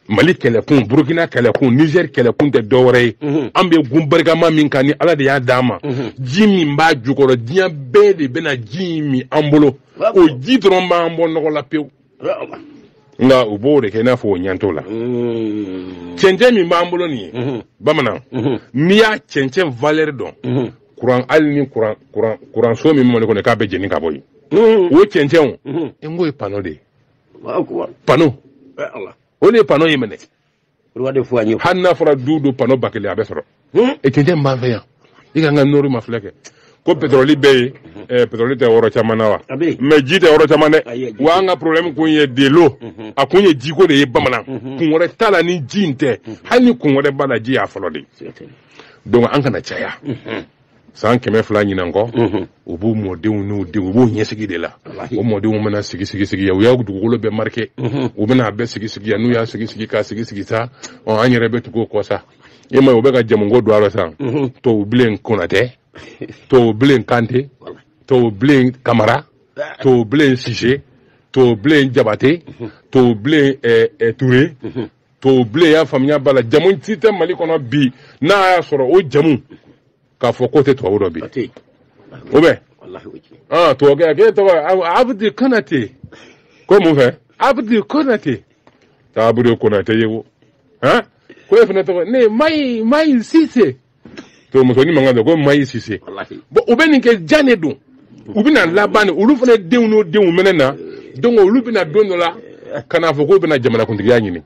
mali kɛlɛkun burukina kɛlɛkun nizɛri kɛlɛkun tɛ dɔwɛrɛ ye an bɛ gun barikama min kan ni ala de y'a d'an ma ji min b'a jukɔrɔ diɲɛ bɛɛ de bɛna ji in min an bolo o ji dɔrɔn b'an bɔ nɔgɔ la pewu nka u b'o de kɛ i n'a fɔ u ɲɛ t'o la mm. cɛncɛn min b'an bolo nin ye mm-hmm. bamanan mm-hmm. n'i y'a cɛncɛn valɛri dɔn mm-hmm. kuran hali ni kuran kuran kuranso min bɛ mali kɔnɔ k'a bɛɛ jeni ka bɔ yen o cɛncɛnw n k'o ye pano de ye pano o de ye pano ye minɛ Roi de Foigno. Hali n'a fɔra don o don panneau ba kelen a bɛ sɔrɔ. Hmm? Et cɛncɛn min b'an fɛ yan i k'an ka nord mafilɛ kɛ. ko pétrole bɛ yen hmm. eh, pétrole tɛ yɔrɔ caman na wa mais ji tɛ yɔrɔ caman dɛ wa an ka problème kun ye de l'eau hmm. a kun ye jiko de ye bamanan kun wɛrɛ t'a la ni ji in tɛ hali ni kun wɛrɛ b'a la ji y'a fɔlɔ de ye donc an kana caya san kɛmɛ fila ɲinan kɔ u b'u mɔdenw n'u denw u b'u ɲɛsigi de la o mɔdenw bɛna sigi sigi sigi yan u y'a dugukolo bɛɛ marike u bɛna a bɛɛ sigi sigi yan n'u y'a sigi sigi k'a sigi sigi sa ɔ an yɛrɛ bɛ tugu o kɔ sa e m'a ye u bɛ ka jamuko don a rɔ sa tubabu bilen konatɛ tubabu bilen kante tubabu bilen kamara tubabu bilen sise tubabu bilen jabate tubabu bilen ture tubabu bilen y'a faamuya b'a la jamu si tɛ mali kɔnɔ bi n'a y'a sɔrɔ o jamu k'a fɔ k'o tɛ tubabu dɔ bi o bɛ ah tubabukɛ a k'e tɔgɔ abudi konate ko mun fɛ abudi konate abudi konate ye ko han ko e fana tɔgɔ de mayi mayi sise tubabu musonin mankan tɛ ko mayi sise bon u bɛ nin kɛ jan de don u bɛna laban de olu fana denw n'o denw bɛna na donc olu bɛ na don dɔ la ka n'a fɔ k'u bɛna jamanakuntigiya ɲini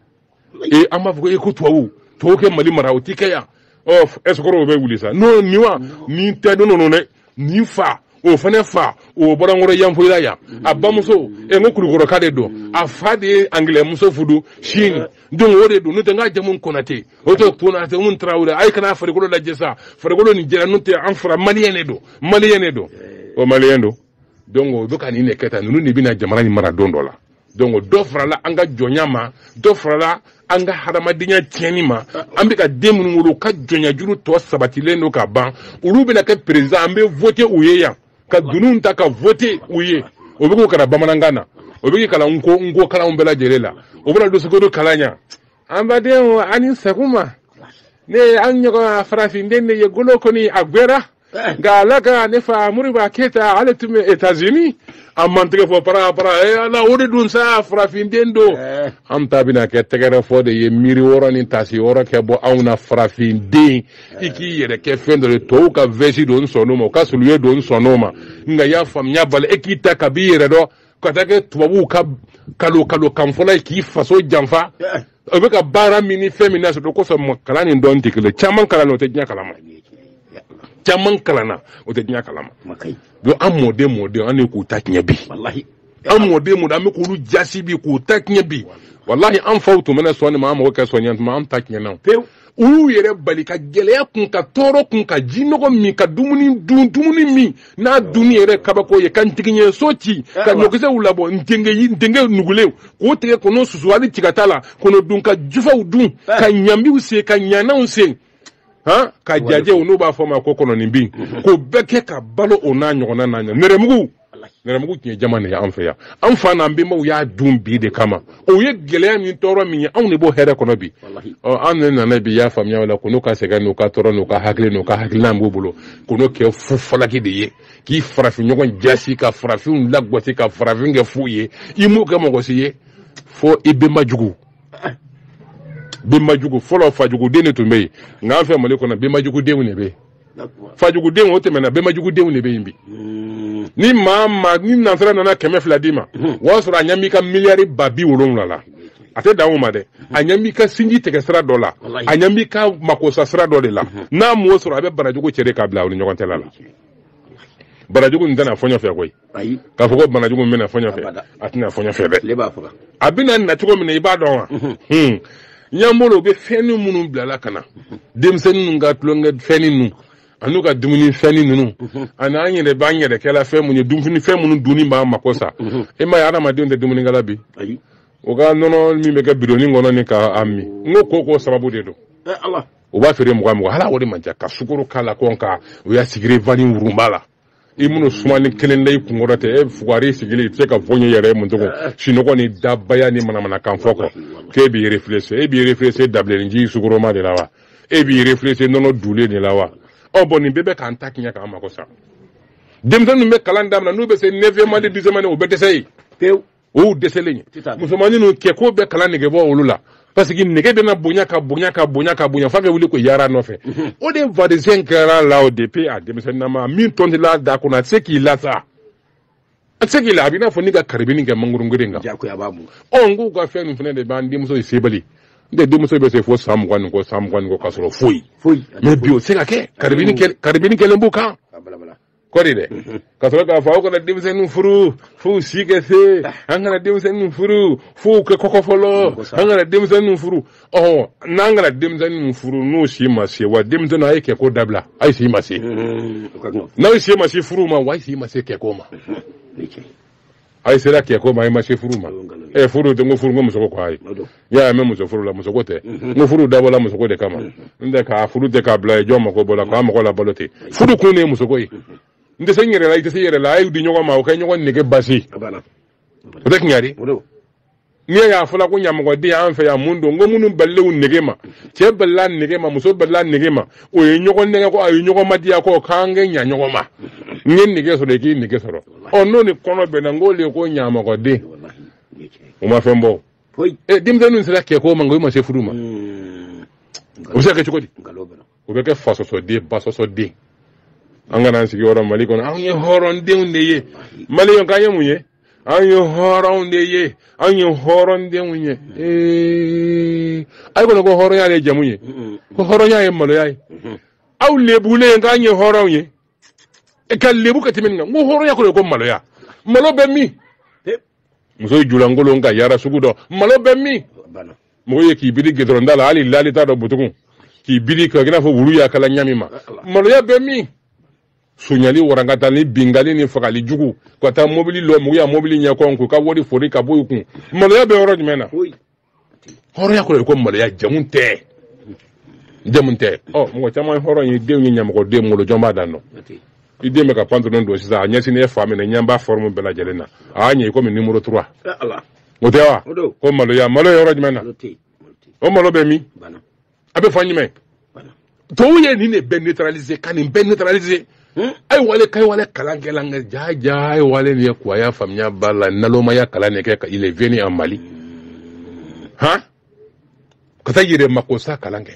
ee an b'a fɔ ko e ko tubabu tubabu ka mali mara o ti kɛ yan ɔ ɛsɔkɔrɔw bɛ wuli sa n'o nin wa nin tɛ dunan ye nin fa o fana fa o bɔra an kɔrɔ yanfoyila yan a bamuso ɛ n ko kulukɔrɔka de don a fa de ye angilɛmuso fudu sini donc o de don n'o tɛ n ka jamu konate o tɛ konate mun tarawele aw kana farikolo lajɛ sa farikolo nin jɛra n'o tɛ an fara maliyɛn de don maliyɛn de don o maliyɛn don donc u bɛ ka nin de kɛ tan ninnu de bɛna jamana in mara don dɔ la donc dɔ farala an ka jɔnya ma dɔ farala an ka hadamadenya tiɲɛni ma an bɛ ka den minnu wolo u ka jɔnyajuru tɔ sabatilen don ka ban olu bɛna kɛ président an bɛ vote u ye yan ka dununw ta ka vote u ye o bɛ k'o kalan bamanankan na o bɛ k'o kalan nko nko kalanw bɛɛ lajɛlen la o bɛna dusukolo kalan yan an badenw a ni sakuma ne ye an ɲɔgɔn farafinden de ye golo kɔni a gwɛra nka ala ka ne fa moriba keyita ale tun bɛ etazini an ma tɛgɛ fɔ para para ee ala o de dun sa farafinden don an ta bɛna kɛ tɛgɛrɛ fɔ de ye miiri wɔɔrɔ ni taasi wɔɔrɔ kɛ bɔ anw na farafinden i k'i yɛrɛ kɛ fɛn dɔ de tɔw ka vɛsi don n sɔnn'o ma u ka suluye don n sɔnn'o ma nka y'a faamuya bali e k'i ta ka b'i yɛrɛ dɔn ka taa kɛ tubabuw ka kalo kalo kan fɔla ye k'i faso janfa o bɛ ka baara min ni fɛn min na sɔrɔ kosɔn ma kalan ni dɔn tɛ kelen caman kalanna o tɛ diɲɛ kalama caman kalanna o tɛ diɲɛ kalama donc an mɔden mɔden an de k'u ta tiɲɛ bi an mɔden mɔden an bɛ k'olu jasi bi k'u ta tiɲɛ bi walahi an faw tun mana sɔn nin ma an mago kɛ sɔn ɲɛ tuma an ta tiɲɛna pewu olu y'u yɛrɛ bali ka gɛlɛya kun ka tɔɔrɔ kun ka ji nɔgɔ min ka dumuni dun dumuni min n'a dunni yɛrɛ kabako ye ka ntigiɲɛso ci ka ɲɔkisɛw labɔ ntenkɛ nugulenw k'o tigɛ k'o susu hali tigata la k'o dun ka jufaw dun ka ɲambiw sen ka ɲananw sen han ka jajɛw n'u b'a fɔ ma ko kɔnɔninbin k'o bɛɛ kɛ ka balo o n'a ɲɔgɔnna n'a ɲɛ nɛrɛmugu nɛrɛmugu tun ye jama de ye an fɛ yan an fa n'an bɛnbaw y'a dun bi de kama o ye gɛlɛya min tɔɔrɔ min ye anw de b'o hɛrɛ kɔnɔ bi an ne nana bi y'a faamuya o la ko n'u ka sɛgɛn n'u ka tɔɔrɔ n'u ka hakili n'u ka hakililan b'u bolo ko n'o kɛ fu falaki de ye k'i farafin ɲɔgɔn jasi ka farafinw lagɔsi ka farafin kɛ fu ye i m'o kɛ mɔgɔ si ye fo i bɛnba jugu bɛnba jugu fɔlɔ fajuguden de tun bɛ yen nka an fɛ mali kɔnɔ bɛnba jugudenw de bɛ yen fajugudenw o tɛmɛna bɛnbajugudenw de bɛ yen bi ni maa maa ni nansara nana kɛmɛ fila d'i ma o y'a sɔrɔ a ɲɛ b'i ka miliyari ba bi wolonwula la a tɛ dan o ma dɛ a ɲɛ b'i ka sinji tigɛ sira dɔ la a ɲɛ b'i ka makosa sira dɔ de la n'a m'o sɔrɔ a bɛ barajugu cɛ de k'a bila aw ni ɲɔgɔn cɛla la barajugu nin tɛ na fɔɲɔ fɛ koyi ayi k'a fɔ ko bana jugu min bɛ na fɔɲɔ fɛ Abada. a tɛ na fɔɲɔ fɛ dɛ ne b'a faga a bɛna na cogo min na i b'a dɔn wa Hmm. ɲan bolo u bɛ fɛnni minnu bilala ka na denmisɛnnin ninnu ka tulonkɛ fɛnni ninnu an'u ka dumuni fɛnni ninnu ani an yɛrɛ b'an yɛrɛ kɛla fɛn minnu ye dumuni fɛn minnu dunni b'an mako sa e ma ye adamadenw tɛ dumunikɛla bi ayi o ka nɔnɔ min bɛ kɛ bidonni kɔnɔ ni k'a min n ko ko k'o sababu de don ɛ ala u b'a feere mugan mugan hali o de man ca ka sukoro k'a la kɔn ka u y'a sigire vanille wurunba la i minnu sumani kelen da i kunkɔrɔ tɛ e fugari sigilen i tɛ se ka foyi ɲɛ yɛrɛ ma tugu sinɔgɔ ni dabaya ni manamanakan fɔ kɔ k'e b'i réfléchir e b'i réfléchir dabilenninji sugoroma de la wa e b'i réfléchir nɔnɔ dulen de la wa ɔ bon nin bɛɛ bɛ k'an ta tiɲɛ k'an mago sa denmisɛnninw bɛ kalan daminɛ n'u bɛ se neuvième année dixième année o bɛ dɛsɛ ye o dɛsɛlen musomannin ninnu kɛko bɛ kalan nege bɔ olu la parce que nege bɛna bonya ka bonya ka bonya ka bonya f'a bɛ wuli ko yaara nɔfɛ mhm. o de vaccin kɛra la o depuis a denmisɛnninama min tɔntila da kɔnɔ a tɛ se k'i la sa a tɛ se k'i la a b'i n'a fɔ n'i ka karibini kɛ mangorongeren kan ɔ n k'u ka fɛn ninnu fana de b'an denmuso ye sebali n tɛ denmuso bɛ se fo san mugan ni kɔ san mugan ni kɔ k'a sɔrɔ foyi mais bi o tɛ se ka kɛ karibini kɛlen b'u kan kɔri dɛ ka sɔrɔ k'a fɔ aw kana denmisɛnninw furu f'u si ka se an kana denmisɛnninw furu f'u kɛ kɔgɔ fɔlɔ an kana denmisɛnninw furu ɔhɔn n'an kana denmisɛnninw furu n'u si ma se wa denmisɛnninw a ye kɛko dabila a ye si ma se n'aw si ma se furu ma wa a ye si ma se kɛko ma a ye sera kɛko ma a ye ma se furu ma ɛ furu tɛ n ko furu n ko musoko ko a ye y'a ye n bɛ muso furu la musoko tɛ n ko furu dabɔla musoko de kama n tɛ k'a furu tɛ k'a bila yen jɔn mako b'o la ka mɔgɔ labalo ten furu kun de ye musoko ye n tɛ se n yɛrɛ la i tɛ se i yɛrɛ la a y'u di ɲɔgɔn ma u ka ɲɔgɔn nege basi o tɛ tiɲɛ ye n'i y'a fɔla ko ɲamɔgɔden an fɛ yan mun don n ko minnu balilenw nege ma cɛ balila nege ma muso balila nege ma o ye ɲɔgɔn nɛgɛn ko a ye ɲɔgɔn madiya ko k'an kɛ ɲa ɲɔgɔn ma n kɛ nege sɔrɔ i k'i nege sɔrɔ ɔ n'o ni kɔnɔ bɛnna n k'o de ye ko ɲamɔgɔden o ma fɛn bɔ denmisɛnninw sera kɛko ma n ko i ma se furu ma o bɛ se ka kɛ cogo di o bɛ kɛ fasɔsɔden basɔsɔden an kana an sigiyɔrɔ mali kɔnɔ anw ye hɔrɔndenw de ye maliyɛnw k'an ye mun ye anw ye hɔrɔnw de ye anw ye hɔrɔndenw ye ee a ye kɔnɔ ko hɔrɔnya de jamu ye ko hɔrɔnya ye maloya ye aw lebulen k'an ye hɔrɔnw ye e ka lebu ka tɛmɛ nin kan n ko hɔrɔnya kɔrɔ ko maloya malo bɛ min muso y'i julankolon ka yaara sugu dɔ malo bɛ min mɔgɔ ye k'i biri gidɔrɔn da la hali lali t'a dɔn butugun k'i biri k'i n'a fɔ wulu y'a kala ɲami ma maloya bɛ min sonyali warankata ni binkanli ni fagali jugu ka taa mobili lɔ mɔgɔw ya mobili ɲɛkɔn k'u ka wari fori ka bɔ i kun maloya bɛ yɔrɔ jumɛn na hɔrɔnya kɔrɔ ko maloya jamu tɛ jamu tɛ ɔ mɔgɔ caman hɔrɔn ye denw ye ɲamɔgɔden wolo jɔn b'a dan dɔn i den bɛ ka pantalon don sisan a ɲɛsinnen fan min na ɲɛ b'a forme bɛɛ lajɛlen na a y'a ɲɛ i komi numéro trois o tɛ wa ko maloya malo yɔrɔ jumɛn na o malo bɛ min a bɛ fan jumɛn tubabu ye nin de bɛɛ neutraliser ka nin bɛɛ neutraliser hmm? a ye wale k'a ye wale kalan kɛ la nka jaa jaa a ye wale nin ye ko a y'a faamuya ba la nalomaya kalan de kɛ ka il est venu en Mali han ka taa yɛrɛ makosa kalan kɛ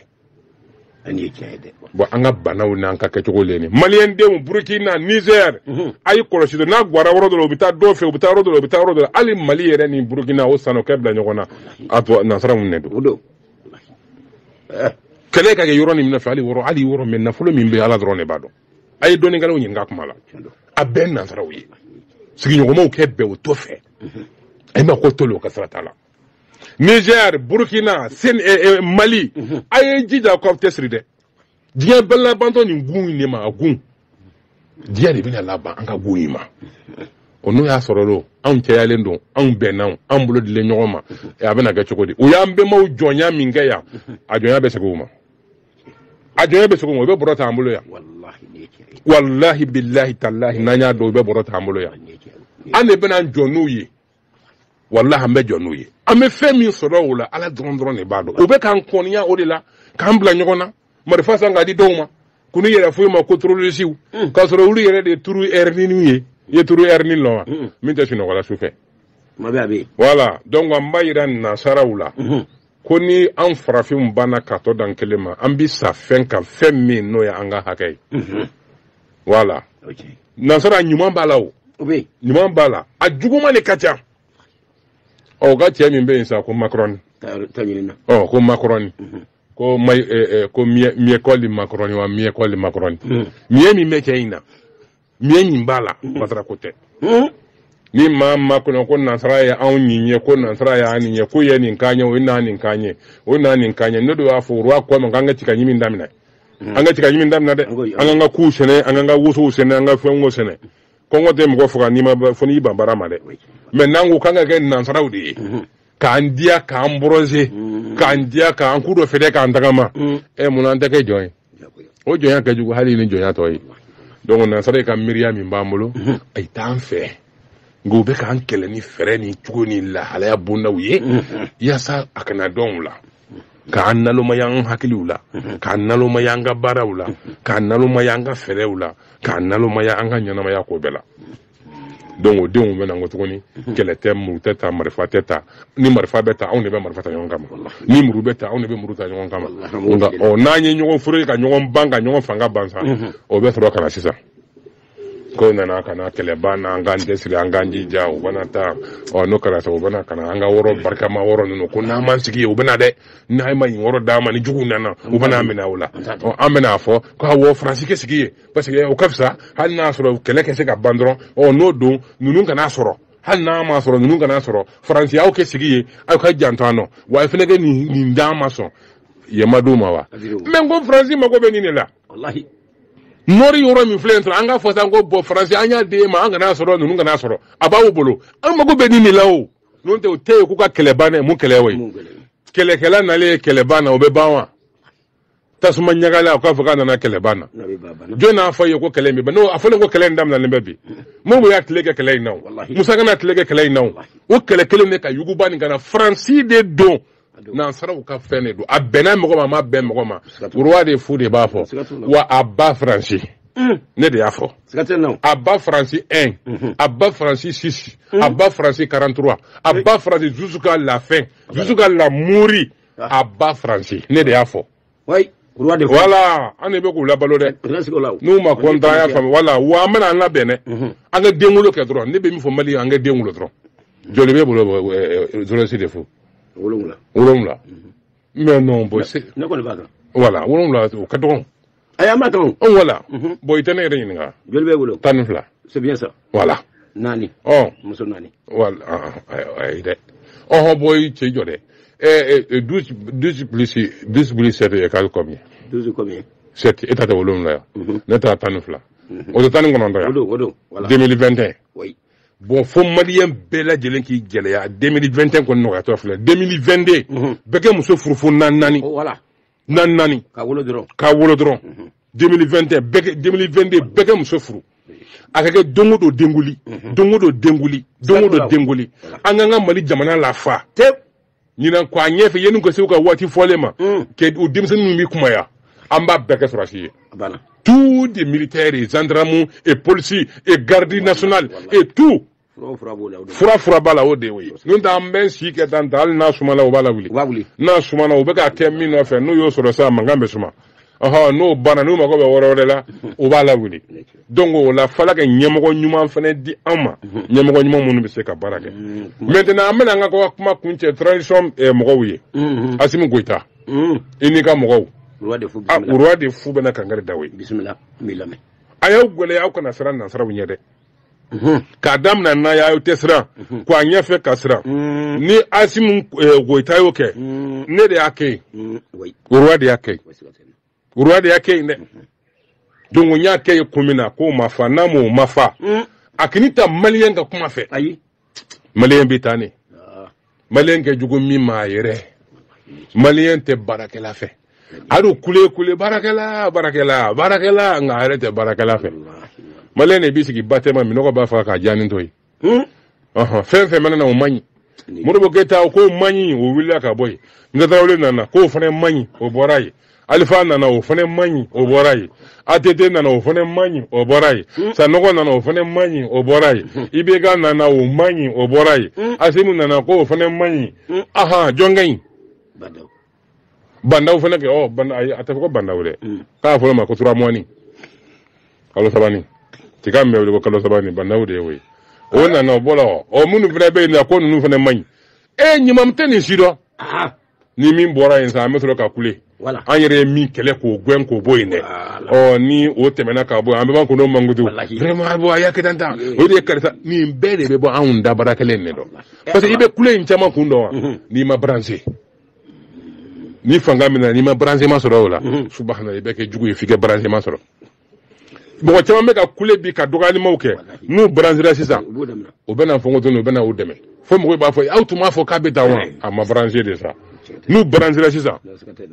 bon an ka banaw n'an ka kɛcogo le ni maliyɛn denw burukina nizɛr mhm. a y'i kɔlɔsi n'a gwara yɔrɔ dɔ la u bɛ taa dɔ fɛ u bɛ taa yɔrɔ dɔ la u bɛ taa yɔrɔ dɔ la hali mali yɛrɛ ni burukina o sanɔkɛ bila ɲɔgɔn na a to nansara mun ne don kɛlɛ ka kɛ yɔrɔ nin min fɛ hali wɔrɔ hali wɔrɔ mɛ nafolo min bɛ ala dɔrɔn de b'a dɔn a ye dɔnnikɛlaw ɲininka kuma la a bɛɛ nansaraw ye sigiɲɔgɔnmaw kɛ bɛɛ o to fɛ a ye ma ko tolu o ka sira t'a la niger burkina sen eh, eh, mali a ye jija k'aw cɛsiri dɛ diɲɛ bɛɛ labantɔ nin gun in de ma a gun diɲɛ de bɛna laban an ka gun in ma o n'o y'a sɔrɔ don anw cɛyalen don anw bɛnna anw bolo dilen ɲɔgɔn ma a bɛna kɛ cogo di u y'an bɛnbaw jɔnya min kɛ yan a jɔnya bɛ segin o ma a jɔnya bɛ segin o ma o bɛ bɔrɔ ta an bolo yan walahi bilahi talahi n'an y'a dɔn o bɛ bɔrɔ ta an bolo yan an de bɛna jɔ n'u ye walahi an bɛ jɔ n'u ye an bɛ fɛn min sɔrɔ o la ala dɔrɔn dɔrɔn de b'a dɔn o bɛ k'an kɔniya o de la k'an bila ɲɔgɔn na marifa san k'a di dɔw ma k'u ni yɛrɛ fɔ i ma ko torolisiw mm. k'a sɔrɔ olu yɛrɛ de ye turu ɛriniw ye i ye turu ɛrini lɔn wa mm. min tɛ sunɔgɔ la su fɛ voilà donc an b'a yira nasaraw la mm-hmm. ko ni an farafinw banna ka tɔ dan kelen ma an bi sa fɛn kan fɛn min n'o ye an ka hakɛ ye mm-hmm. voilà nansara ɲuman b'a la o ɲuman b'a la a juguman de ka ca u ka cɛ min bɛ yen sa ko makrɔni ɔ ko makrɔni mhm. ko ma eh, eh, ko miekɔli makrɔni wa miekɔli makrɔni mhm. miɛ min bɛ cɛ in na miɛ min b'a la mhm. masara ko tɛ ni maa ma kɔnɔ ko nansara ye anw nin ye ko nansara y'a nin ye ko ye nin kan ye o ye n'a nin kan ye o n'a nin kan ye ne de y'a fɔ o y'a kɔ ma k'an ka tiga ɲimi daminɛ mm. an ka tiga ɲimi damina dɛ an k'an ka kuw sɛnɛ an k'an ka wosow sɛnɛ an ka fɛnko sɛnɛ kɔngɔ tɛ mɔgɔ faga n'i ma fo n'i ban baara ma dɛ mais n'an ko k'an ka kɛ nansaraw de ye mm-hmm. k'an diya k'an brosser mm-hmm. k'an diya k'an coup de fer dɛ k'an tagama ɛ mm. eh, munna an tɛ kɛ jɔn ye o jɔnya ka jugu hali ni jɔnya tɔ ye donc nansara ye ka miiriya min b'an bolo mm-hmm. a ye t'an fɛ nka u bɛ k'an kɛlɛ ni fɛɛrɛ ni cogo ni lahalaya bondaw ye yaasa a kana dɔn u la k'an nalomaya an hakiliw la k'an nalomaya an ka baaraw la k'an nalomaya an ka fɛɛrɛw la k'an nalomaya an ka ɲɛnamaya ko bɛɛ la donc o denw bɛ na ko tuguni kɛlɛ tɛ muru tɛ ta marifa tɛ ta ni marifa bɛ ta anw de bɛ marifa ta ɲɔgɔn kama ni muru bɛ ta anw de bɛ muru ta ɲɔgɔn kama nka ɔ n'an ye ɲɔgɔn foori ka ɲɔgɔn ban ka ɲɔgɔn fanga ban sa o bɛ sɔrɔ ka na sisan k'u nana ka na kɛlɛ ban an k'an cɛsiri an k'an jija u bɛna taa ɔ n'o kɛra sa u bɛna ka na an ka wɔrɔ barikama wɔrɔ ninnu ko n'an m'an sigi yen u bɛna dɛ n'aw ma nin wɔrɔ d'an ma ni juguw nana u bɛn'a minɛ aw la ɔ an bɛna a fɔ ko awɔ faransi k'i sigi yen parce que o ka fisa hali n'a sɔrɔ kɛlɛ ka se ka ban dɔrɔn ɔ n'o don ninnu kana sɔrɔ hali n'a ma sɔrɔ ninnu kana sɔrɔ faransi aw k'aw sigi yen aw ka janto an na wa aw fana ka nin d'an ma sɔn i m'a d'u ma wa mais n ko faransi mago bɛ nin de la nɔri yɔrɔ min filɛ sɔrɔ an k'a fɔ sa ko bɔn faransi an y'a di e ma an kana sɔrɔ ninnu kana sɔrɔ a b'aw bolo an mago bɛ nin de la o n'o tɛ o tɛ yen k'u ka kɛlɛ ban dɛ mun kɛlɛ o ye kɛlɛkɛla nalen ye kɛlɛ ban na o bɛ ban wa tasuma ɲagala o k'a fɔ k'a nana kɛlɛ ban na jɔn n'a fɔ ye ko kɛlɛ in bɛ ban n'o a fɔlen ko kɛlɛ in daminɛlen bɛ bi modibo y'a tile kɛ kɛlɛ in na o musa kana tile kɛ kɛlɛ in na o o kɛlɛ kelen de ka yuguba nin kana faransi de don nansaraw ka fɛn de don a bɛnna mɔgɔ ma a ma bɛn mɔgɔ ma roi de fou de b'a fɔ wa à bas faransi mm. ne de y'a fɔ à bas faransi 1 mm-hmm. à bas faransi 6 mm. à bas faransi 43 à bas faransi jusqu'à la fin jusqu'à la mourir ah. à bas faransi ne de y'a fɔ oui roi de fou voilà an de bɛ k'u labalo dɛ président sigiw la o n'u ma kɔntan an y'a faamu voilà wa an bɛna an labɛn dɛ Mhm. an ka denwolo kɛ dɔrɔn ne bɛ min fɔ mali ye an ka denwolo dɔrɔn joli b'e bolo dɔrɔsi de fou wolonwula wolonwula mais non boy c'est ne kɔni b'a dɔn voilà wolonwula o ka dɔgɔn ayi an b'a dɔn o voilà Mhm. bɔn i tɛ ne yɛrɛ ɲininka joli b'e bolo tan ni fila c'est bien ça voilà naani ɔ muso naani voilà ah, ah, ayi ayi dɛ ɔhɔ boy k'i jɔ dɛ ɛɛ ɛɛ douze douze plus douze plus sept égale combien douze combien sept e ta tɛ wolonwula ya mhm. ne ta tan ni fila mhm. o tɛ tan ni kɔnɔntɔn ya o don o don voilà deux mille vingt et un oui bɔn fo maliyɛn bɛɛ lajɛlen k'i gɛlɛya deux mille vingt et un kɔni nɔgɔyatɔ filɛ deux mille vingt deux bɛɛ kɛ muso furu fo naani naani voilà naani naani ka wolo dɔrɔn ka wolo dɔrɔn 2021 bɛɛ kɛ 2022 bɛɛ kɛ muso furu a ka kɛ don o don denkunli don o don denkunli don o don denkunli an k'an ka mali jamana lafa tep ɲinan ko a ɲɛfɛ yanni u ka se u ka waati fɔlen ma kɛ u denmisɛnnin min bɛ kunbaya an b'a bɛɛ kɛ sɔrɔdasi ye a banna tous des militaires et gendarmes et policiers et garde nationale et tout fura fura b'a la o de y'o ye n'o tɛ an bɛ si kɛ tan ta hali n'a sumana o b'a lawuli n'a sumana o bɛ ka kɛ min nɔfɛ n'u y'o sɔrɔ sisan mankan bɛ suma n'o banna n'u mago bɛ yɔrɔ wɛrɛ la o b'a lawuli donc o la fo ala ka ɲɛmɔgɔ ɲuman fana di an ma ɲɛmɔgɔ ɲuman minnu bɛ se ka baara kɛ maintenant an bɛna an ka kuma kuncɛ transition eh, mɔgɔw ye Asimu Goyita i n'i ka mɔgɔw Roi de fou bɛna kankari da aw ye a y'aw gɛlɛya aw kana siran nansaraw ɲɛ dɛ k'a daminɛ n'a y'a tɛ siran ko a ɲɛfɛ ka siran ni asimu goyita y'o kɛ ne de y'a kɛ yen roi de y'a kɛ yen roi de y'a kɛ yen dɛ donc n y'a kɛ yen kun min na k'o ma fa n'a m'o ma fa a kana taa maliyɛn ka kuma fɛ ayi maliyɛn bɛ tan de maliyɛn kɛ jugu min ma a yɛrɛ maliyɛn tɛ baarakɛla fɛ a dun kule kule baarakɛla baarakɛla baarakɛla nka a yɛrɛ tɛ baarakɛla fɛ maliyɛn de b'i sigi ba tɛma minnɔgɔ b'a faga k'a jaani to yen hmm? fɛn fɛn mana na o man ɲi modibo keyita o k'o man ɲi o wulila ka bɔ yen musa tarawele nana k'o fana man ɲi o bɔra yen alifa nana o fana man ɲi o bɔra yen att nana o fana man ɲi o bɔra yen hmm. sanɔgɔ nana o fana man ɲi o bɔra yen hmm. ibeka nana o man ɲi o bɔra yen hmm. asimi nana ko o fana man ɲi aha jɔn ka ɲi bandaw fana kɛ ɔ banda ayi a tɛ fɔ ko bandaw dɛ k'a fɔra ma ko turamɔni kalo sabani tiga min bɛ wele ko kalo sabani bandaw de ye o ye o nana o bɔra ɔ minnu fana bɛ yen nɔ ko ninnu fana man ɲi e ɲuman tɛ nin si dɔ ni min bɔra yen sa an bɛ sɔrɔ ka kule an yɛrɛ ye min kɛlɛ k'o gɛn k'o bɔ yen dɛ ɔ ni o tɛmɛna ka bɔ an bɛ ban ka n'o mankutu vraiment a y'a kɛ tan tan o de ye karisa nin bɛɛ de bɛ bɔ anw da baara kelen de don parce que i bɛ kule in caman kun dɔn wa mhm. n'i ma branché ni fanga min na n'i ma branchement sɔrɔ o la mhm. subahana i bɛ kɛ jugu ye f'i ka branchement sɔrɔ mɔgɔ caman bɛ ka kule bi ka dɔgɔyalimaw kɛ n'u branchera sisan u bɛna fɔ ko dɔnni u bɛna u dɛmɛ fo mɔgɔw b'a fɔ aw tun b'a fɔ k'a bɛ taa wa a ma branché de sa n'u branchera sisan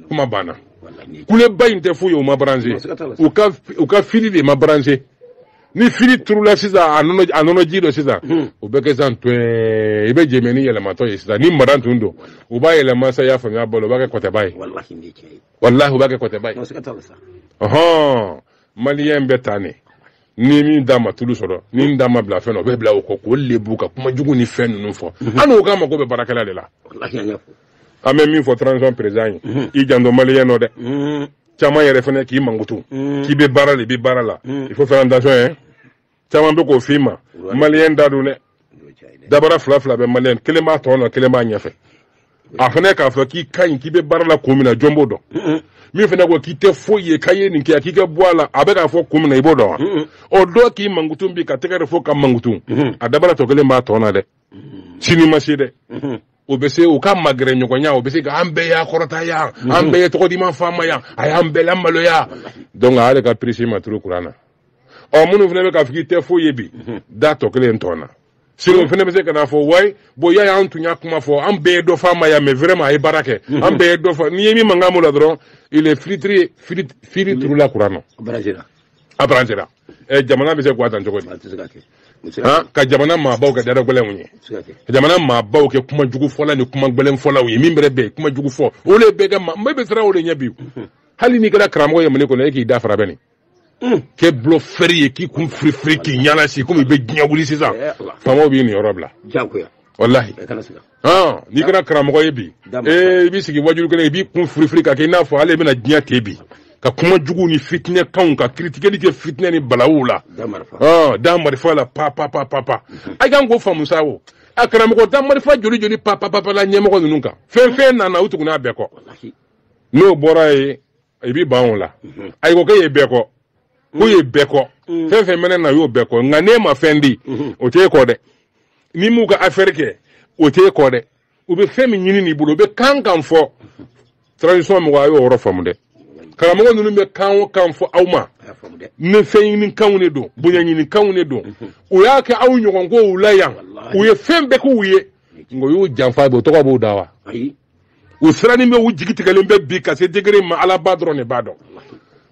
kuma banna kuleba in tɛ foyi ye u ma branché u ka u ka fili de ma branché ni fili turula sisan a nɔnɔ a nɔnɔ ji dɔ sisan o bɛ kɛ sisan tɔɛ i bɛ jɛmɛ ni yɛlɛmatɔ ye sisan ni mara tun don u b'a yɛlɛma sa i y'a faamuya balo u b'a kɛ kɔtɛba ye walahi u b'a kɛ kɔtɛba ye ɔhɔn maliyɛn bɛ tan ne ni min d'a ma tulu sɔrɔ ni min d'a ma bila fɛn na o bɛ bila o kɔ k'o lebu ka kuma jugu ni fɛn ninnu fɔ mhm. an n'o k'an mago bɛ baarakɛla de la an bɛ min fɔ transition président ye mhm. i janto maliyɛn nɔ dɛ mhm. caman yɛrɛ fana k'i mankutu k'i bɛ baara de i bɛ baara la il faut faire attention hein caman bɛ k'o f'i ma maliyɛn da dɔn dɛ dabara fila fila bɛ maliyɛn kelen b'a tɔn nɔ kelen b'a ɲɛfɛ a fana k'a fɔ k'i ka ɲi k'i bɛ baara la kun min na jɔn b'o dɔn min fana ko k'i tɛ foyi ye k'a ye nin kɛ k'i ka bɔ a la a bɛ k'a fɔ kun min na i b'o dɔn wa o dɔ k'i mankutu bi ka tɛgɛrɛ fɔ ka mankutu a dabara tɔ kelen b'a tɔn na dɛ sini ma se dɛ o bɛ se u ka magɛrɛ ɲɔgɔnya o bɛ se ka an bɛɛ y'a kɔrɔta yan an bɛɛ ye tɔgɔ di ma faama yan a y'an bɛɛ lamaloya donc a y'ale ka prise ma turu kuran na ɔ minnu fana bɛ k'a fɔ k'i tɛ foyi ye bi da tɔ kelen tɔn na sini o fana bɛ se ka n'a fɔ wayi bon y'a y'an tun y'a kuma fɔ an bɛɛ ye dɔ f'a ma yan mais vraiment a ye baara kɛ an bɛɛ ye dɔ fɔ n'i ye min mankan m'o la dɔrɔn ale fili fili fili turula kuran na a branchera ɛ jamana bɛ se ka taa cogo di ka jamana maabaw kɛ dara gɛlɛnw ye ka jamana maabaw kɛ kuma jugu fɔla ni kuma gɛlɛn fɔlaw ye min bɛrɛ bɛ kuma jugu fɔ o de bɛ kɛ maa n bɛ siran o de ɲɛ bi hali n'i kɛra karamɔgɔ ye mali kɔnɔ e k'i da fara bɛɛ neni k'i bolo fɛri ye k'i kun firifiri k'i ɲɛna si komi i bɛ diɲɛ wuli sisan faamaw b'i niyɔrɔ bila walahi n'i kɛra karamɔgɔ ye bi i b'i sigi waajuli kelen i b'i kun firifiri ka kɛ i n'a fɔ ale bɛna diɲɛ ten bi ka kuma jugu ni fitinɛ kanw ka critiqueli kɛ fitinɛ ni balawu la da marifa la pa pa pa pa pa mhm. a kan k'o faamu sa o a karamɔgɔ da marifa joli joli pa pa pa pa la ɲɛmɔgɔ ninnu kan fɛn fɛn nana u tugunna a bɛɛ kɔ n'o bɔra ye i b'i ban o la ayi ko k'e ye bɛɛ kɔ k'o ye bɛɛ kɔ fɛn fɛn mɛnɛ na o y'o bɛɛ kɔ nka n'e ma fɛn di o t'e kɔ dɛ n'i m'u ka afɛri kɛ o t'e kɔ dɛ u bɛ fɛn min ɲini n'i bolo u bɛ kan kan fɔ transition mɔgɔ a y'o yɔrɔ faamu dɛ karamɔgɔ ninnu bɛ kan o kan fɔ aw ma ni fɛn ɲini kanw de don bonya ɲini kanw de don u y'a kɛ aw ɲɔgɔn ko u la yan u ye fɛn bɛɛ k'u ye nka u y'u janfa bi o tɔgɔ b'u da wa u siranin bɛ u jigi tigɛlen bɛ bi ka se degré ma alaba dɔrɔn de b'a dɔn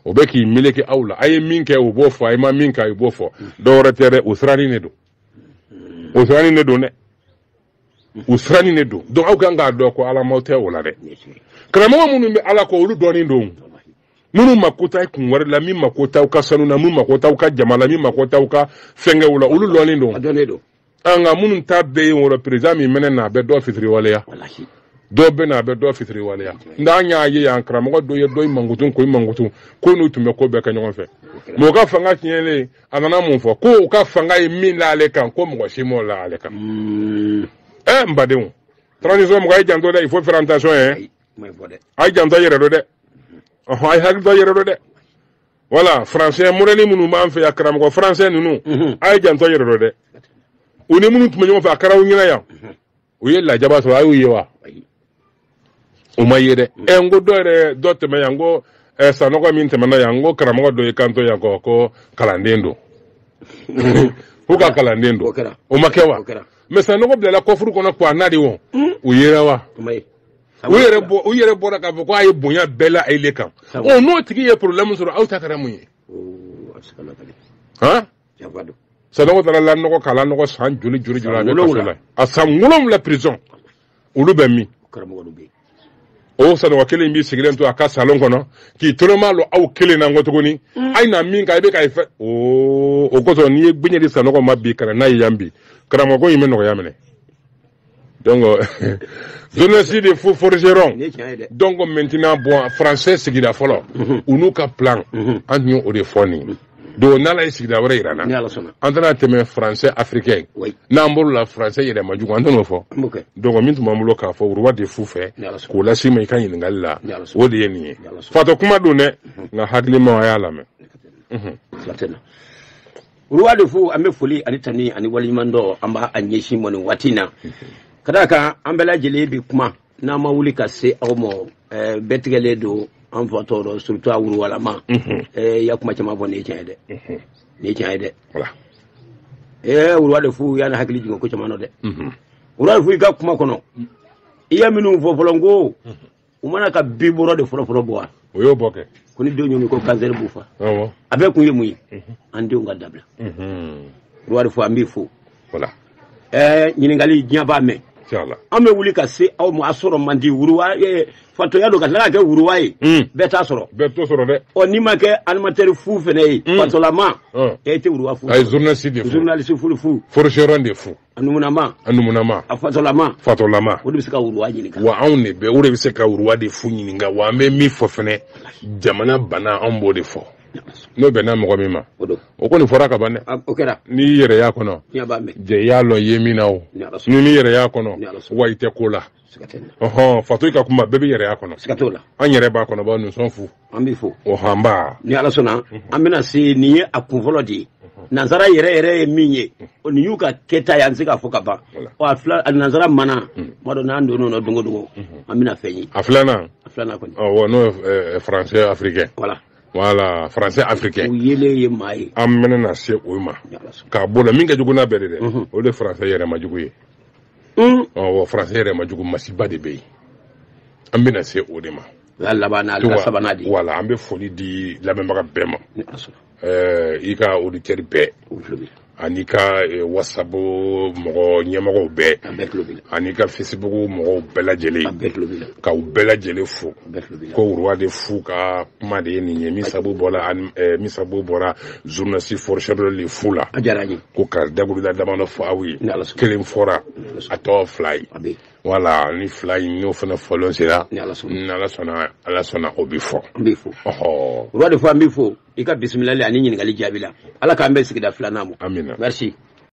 o bɛ k'i meleke aw la a ye min kɛ u b'o fɔ a ye ma min kɛ u b'o fɔ dɔwɛrɛ tɛ dɛ o siranin de don o siranin de don dɛ u siranin de don donc aw kan k'a dɔn ko ala maaw tɛ o la dɛ karamɔgɔ minnu bɛ ala kɔ olu dɔɔnin don minnu mako t'aw kun wari la min mako t'aw ka sanu na min mako t'aw ka jama la min mako t'aw ka fɛnkɛw la olu dɔɔnin don nka minnu ta bɛɛ ye voilà président min mɛnɛ na a bɛ dɔ fitiriwaleya dɔw bɛ na a bɛ dɔ fitiriwaleya nka an y'a ye yan karamɔgɔ dɔ ye dɔ in mankutu ko in mankutu ko n'u tun bɛ ko bɛɛ kɛ ɲɔgɔn fɛ mais u ka fanga tiɲɛlen a nana mun fɔ ko u ka fanga ye min l'ale kan ko mɔgɔ si m'o la ale kan hmm. ɛ n badenw transition mɔgɔ a ye janto dɛ il faut faire attention yɛ a ye janto yɛrɛ dɔ dɛ a ye hakili to yɛrɛ dɔ dɛ voilà français modèle minnu b'an fɛ yan karamɔgɔ français ninnu mhm. a ye janto yɛrɛ dɔ dɛ u ni minnu tun bɛ ɲɔgɔn fɛ a kɛra u ɲɛna yan mhm. u ye lajaba sɔrɔ a y'u ye wa u ma ye dɛ mhm. ɛ n ko dɔ yɛrɛ dɔ tɛmɛ yan n ko ɛ sanɔgɔ min tɛmɛna yan n ko karamɔgɔ dɔ ye kanto yan ko ko kalanden don k'u ka kalanden don o ma kɛ wa mais sanɔgɔ bilala kɔfuru kɔnɔ k'u wa n'a de wɔn u yera wa u yɛrɛ bɔ u yɛrɛ bɔra k'a fɔ ko a ye bonya bɛɛ la ale kan ɔ n'o tigi ye problème sɔrɔ aw ta kɛra mun ye han sanɔgɔ taara lanɔgɔ k'a lanɔgɔ san joli joli joli a bɛ kaso la a san wolonwula prison olu bɛ min o sanɔgɔ kelen b'i sigilen to a ka salon kɔnɔ k'i tolomalɔ aw kelen na n ko tuguni mm. a ye na min kan i bɛ ka i fɛ o kosɔn n'i ye gbeɲɛ di sanɔgɔ ma bi ka na n'a ye yan bi karamɔgɔ in bɛ nɔgɔya minɛ donc jeunesse des fous forgeron donc maintenant bon français sigira fɔlɔ mhm. u n'u ka plan mhm. an tun ye o de fɔ nin mhm. donc n'ala ye sigida wɛrɛ yir'an na an tɛna tɛmɛ français africain n'an bolo la français yɛrɛ man jugu an tɛn'o fɔ donc min tun b'an bolo k'a fɔ roi des fous fɛ k'o las'i ma i ka ɲininkali la o de ye nin ye fatɔ kuma don dɛ nka hakilimaw a y'a lamɛn roi de fou an bɛ foli ani tani ani waleɲumandɔn an b'a ɲɛsin i ma nin waati in na ka d'a kan an bɛɛ lajɛlen bi kuma n'an ma wuli ka se aw ma ɛɛ bɛɛ tigɛlen don an fatɔ don surtout a roilama ɛɛ ya kuma caman fɔ nin ye tiɲɛ ye dɛ nin ye tiɲɛ ye dɛ Voilà. ɛɛ roi de fou y'an hakili jigin ko caman na dɛ roi de fou i ka kuma kɔnɔ i ye minnu fɔ fɔlɔ n ko u ma na ka biberon de fɔlɔfɔlɔ bɔ wa o y'o bɔ kɛ ko ni denw y'o min ko kansɛri b'u fa a bɛɛ kun ye mun ye mhm. an denw ka dabila mhm. roi de fou an b'i fo voilà ɛɛ ɲininkali diɲɛ b'a mɛn an bɛ wuli ka se aw ma a sɔrɔ man di roi fatɔya don ka tila ka kɛ roi ye mm. bɛɛ t'a sɔrɔ bɛɛ t'o sɔrɔ dɛ ɔ n'i ma kɛ animateur fou fɛnɛ ye mm. fatɔlama e tɛ roi fou a ye journaliste de fou journaliste fulu fu forgeron de fou a numunama a numunama a fatɔlama fatɔlama o de bɛ se ka roi ɲininka wa anw de bɛ o de bɛ se ka roi de fou ɲininka wa an bɛ min fɔ fɛnɛ jamana bana anw b'o de fɔ n'o bɛnna mɔgɔ min ma o kɔni fɔra ka ban dɛ o kɛra n'i y'i yɛrɛ y'a kɔnɔ jɛ i y'a lɔn i ye min na o n'i m'i yɛrɛ y'a kɔnɔ wa i tɛ ko la ɔhɔn fatɔ ka kuma bɛɛ b'i yɛrɛ y'a kɔnɔ siga t'o la an yɛrɛ b'a kɔnɔ b'a nous sommes fous an b'i fo ɔhɔn nba ni ala sɔnna an bɛna se nin ye a kun fɔlɔ de ye nansara yɛrɛ yɛrɛ ye min ye nin y'u ka kɛta ye an tɛ se k'a fɔ ka ban ɔ a fila a nansara mana kuma dɔ n'an donn'o la don o don an bɛna fɛn ye a filanan a filanan kɔni ɔwɔ n'o ye français africain voilà voilà français africain u yelen ye maa ye an bɛna na se o ma k'a bɔ la min ka jugu n'a bɛɛ ye dɛ o de français yɛrɛma jugu ye français yɛrɛma jugu masiba de bɛ yen an bɛna se o de ma laban sabanan di voilà an bɛ foli di lamɛnbaga bɛɛ ma i ka oditɛri bɛɛ ani i ka eh, whatsapp mɔgɔ ɲɛmɔgɔw bɛɛ ani i ka facebook mɔgɔw bɛɛ lajɛlen ka u bɛɛ lajɛlen fo ko roi de fou ka kuma de ye nin ye min sabu bɔra eh, min sabu bɔra journaliste forgeron de fou la ko ka dakuruda damadɔ fɔ aw ye kelen fɔra a tɔ fila ye voilà ni fila in n'o fana fɔ lon sera ni ala sɔnna ala sɔnna o bɛ fɔ n bɛ fɔ ɔhɔ roi de fou an b'i fo i ka bisimilali ani ɲininkali jaabi la ala k'an bɛn sigida filanan ma amina merci